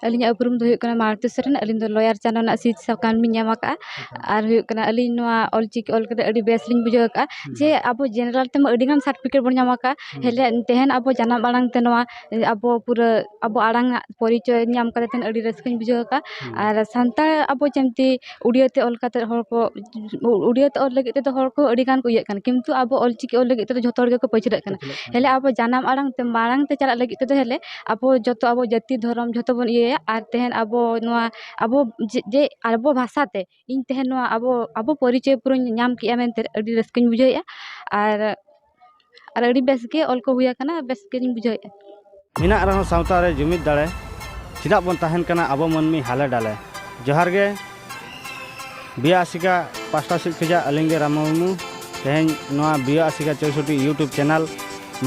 ᱟᱹᱞᱤᱧᱟᱜ ᱩᱯᱨᱩᱢ ᱫᱚ ᱦᱩᱭᱩᱜ ᱠᱟᱱᱟ ᱢᱟᱞᱚᱛᱤ ᱥᱚᱨᱮᱱ ᱟᱹᱞᱤᱧ ᱫᱚ ᱞᱚᱭᱟᱨ ᱪᱟᱱᱟ ᱨᱮᱱᱟᱜ ᱥᱤᱫ ᱥᱟᱠᱟᱢ ᱞᱤᱧ ᱧᱟᱢ ᱟᱠᱟᱫᱼᱟ ᱟᱨ ᱦᱩᱭᱩᱜ ᱠᱟᱱᱟ ᱟᱹᱞᱤᱧ ᱱᱚᱣᱟ ᱚᱞ ᱪᱤᱠᱤ ᱚᱞ ᱠᱟᱛᱮᱫ ᱟᱹᱰᱤ ᱵᱮᱥ ᱞᱤᱧ ᱵᱩᱡᱷᱟᱹᱣ ᱟᱠᱟᱫᱼᱟ ᱡᱮ ᱟᱵᱚ ᱡᱮᱱᱟᱨᱮᱞ ᱛᱮᱢᱟ ᱟᱹᱰᱤ ᱜᱟᱱ ᱥᱟᱨᱴᱤᱯᱷᱤᱠᱮᱴ ᱵᱚᱱ ᱧᱟᱢ ᱟᱠᱟᱫᱼᱟ ᱦᱮᱞᱮ ᱛᱮᱦᱮᱧ ᱟᱵᱚ ᱡᱟᱱᱟᱢ ᱟᱲᱟᱝ ᱛᱮ ᱱᱚᱣᱟ ᱟᱵᱚ ᱯᱩᱨᱟᱹ ᱟᱵᱚ ᱟᱲᱟᱝ ᱟᱜ ᱯᱚᱨᱤᱪᱚᱭ ᱧᱟᱢ ᱠᱟᱛᱮᱫ ᱟᱹᱰᱤ ᱨᱟᱹᱥᱠᱟᱹᱧ ᱵᱩᱡᱷᱟᱹᱣ ᱟᱠᱟᱫᱼᱟ ᱟᱨ ᱥᱟᱱᱛᱟᱲ ᱟᱵᱚ ᱡᱮᱢᱛᱤ ᱩᱲᱤᱭᱟᱹ ᱛᱮ ᱚᱞ ᱠᱟᱛᱮᱫ ᱦᱚᱲ ᱠᱚ ᱩᱲᱤᱭᱟᱹ ᱛᱮ ᱚᱞ ᱞᱟᱹᱜᱤᱫ ᱛᱮᱫᱚ ᱦᱚᱲ ᱠᱚ ᱟᱹᱰᱤ ᱜᱟᱱ ᱠᱚ ᱤᱭᱟᱹᱜ ᱠᱟᱱᱟ ᱠᱤᱱᱛᱩ ᱟᱵᱚ ᱚᱞ ᱪᱤᱠᱤ ᱚᱞ ᱞᱟᱹᱜᱤᱫ ᱛᱮᱫᱚ ᱡᱷᱚᱛᱚ ᱦᱚᱲ ᱜᱮᱠᱚ ᱯᱟᱹᱪᱷᱞᱟᱹᱜ ᱠᱟᱱᱟ ᱦᱮᱸᱞᱮ ᱟᱵᱚ ᱡᱟᱱᱟᱢ ᱟᱲᱟᱝ ᱛᱮ ᱢᱟᱲᱟᱝ ᱛᱮ ᱪᱟᱞᱟᱜ ᱞᱟᱹᱜᱤᱫ ᱛᱮᱫᱚ ᱦᱮᱸᱞᱮ ᱟᱵᱚ ᱡᱚᱛᱚ ᱟᱵᱚ ᱡᱟᱹᱛᱤ ᱫᱷᱚᱨᱚᱢ ᱡᱷᱚᱛᱚ ᱵᱚᱱ ᱤᱭᱟᱹᱭᱟ ᱟᱨ ᱛᱮᱦᱮᱧ ᱟᱵᱚ ᱱᱚᱣᱟ ᱟᱵᱚ ᱡᱮ ᱟᱵᱚ ᱵᱷᱟᱥᱟ ᱛᱮ ᱤᱧ ᱛᱮᱦᱮᱧ ᱱᱚᱣᱟ ᱟᱵᱚ ᱟᱵᱚ ᱯᱚᱨᱤᱪᱚᱭ ᱯᱩᱨᱟᱹᱧ ᱧᱟᱢ ᱠᱮᱫᱼᱟ ᱢᱮᱱᱛᱮ ᱟᱹᱰᱤ ᱨᱟᱹᱥᱠᱟᱹᱧ ᱵᱩᱡᱷᱟᱹᱣᱮᱫᱼᱟ ᱟᱨ ᱟᱨ ᱟᱹᱰᱤ ᱵᱮᱥ ᱜᱮ ᱚᱞ ᱠᱚ ᱦᱩᱭ ᱟᱠᱟᱱᱟ ᱵᱮᱥ ᱜᱮᱞᱤᱧ ᱵᱩᱡᱷᱟᱹᱣᱮᱫᱼᱟ ᱢᱮᱱᱟᱜ ᱨᱮᱦᱚᱸ ᱥᱟᱶᱛᱟ ᱨᱮ ᱡᱩᱢᱤᱫ ᱫᱟᱲᱮ ᱪᱮᱫᱟᱜ ᱵᱚᱱ ᱛᱟᱦᱮᱱ ᱠᱟᱱᱟ ᱟᱵᱚ ᱢᱟᱹᱱᱢᱤ ᱦᱟᱞᱮ ᱰᱟᱞᱮ ᱡᱚᱦᱟᱨ ᱜᱮ ᱵᱤᱭᱟ ᱟᱥᱤᱠᱟ ᱯᱟᱥᱴᱟ ᱥᱮᱫ ᱠᱷᱚᱱᱟᱜ ᱟᱹᱞᱤᱧ ᱜᱮ ᱨᱟᱢ ᱢᱩᱨᱢᱩ ᱛᱮᱦᱮᱧ ᱱᱚᱣᱟ ᱵᱤᱭᱟ ᱟᱥᱤᱠᱟ ᱪᱳᱭᱥᱚᱴᱤ ᱤᱭᱩᱴᱩᱵᱽ ᱪᱮᱱᱮᱞ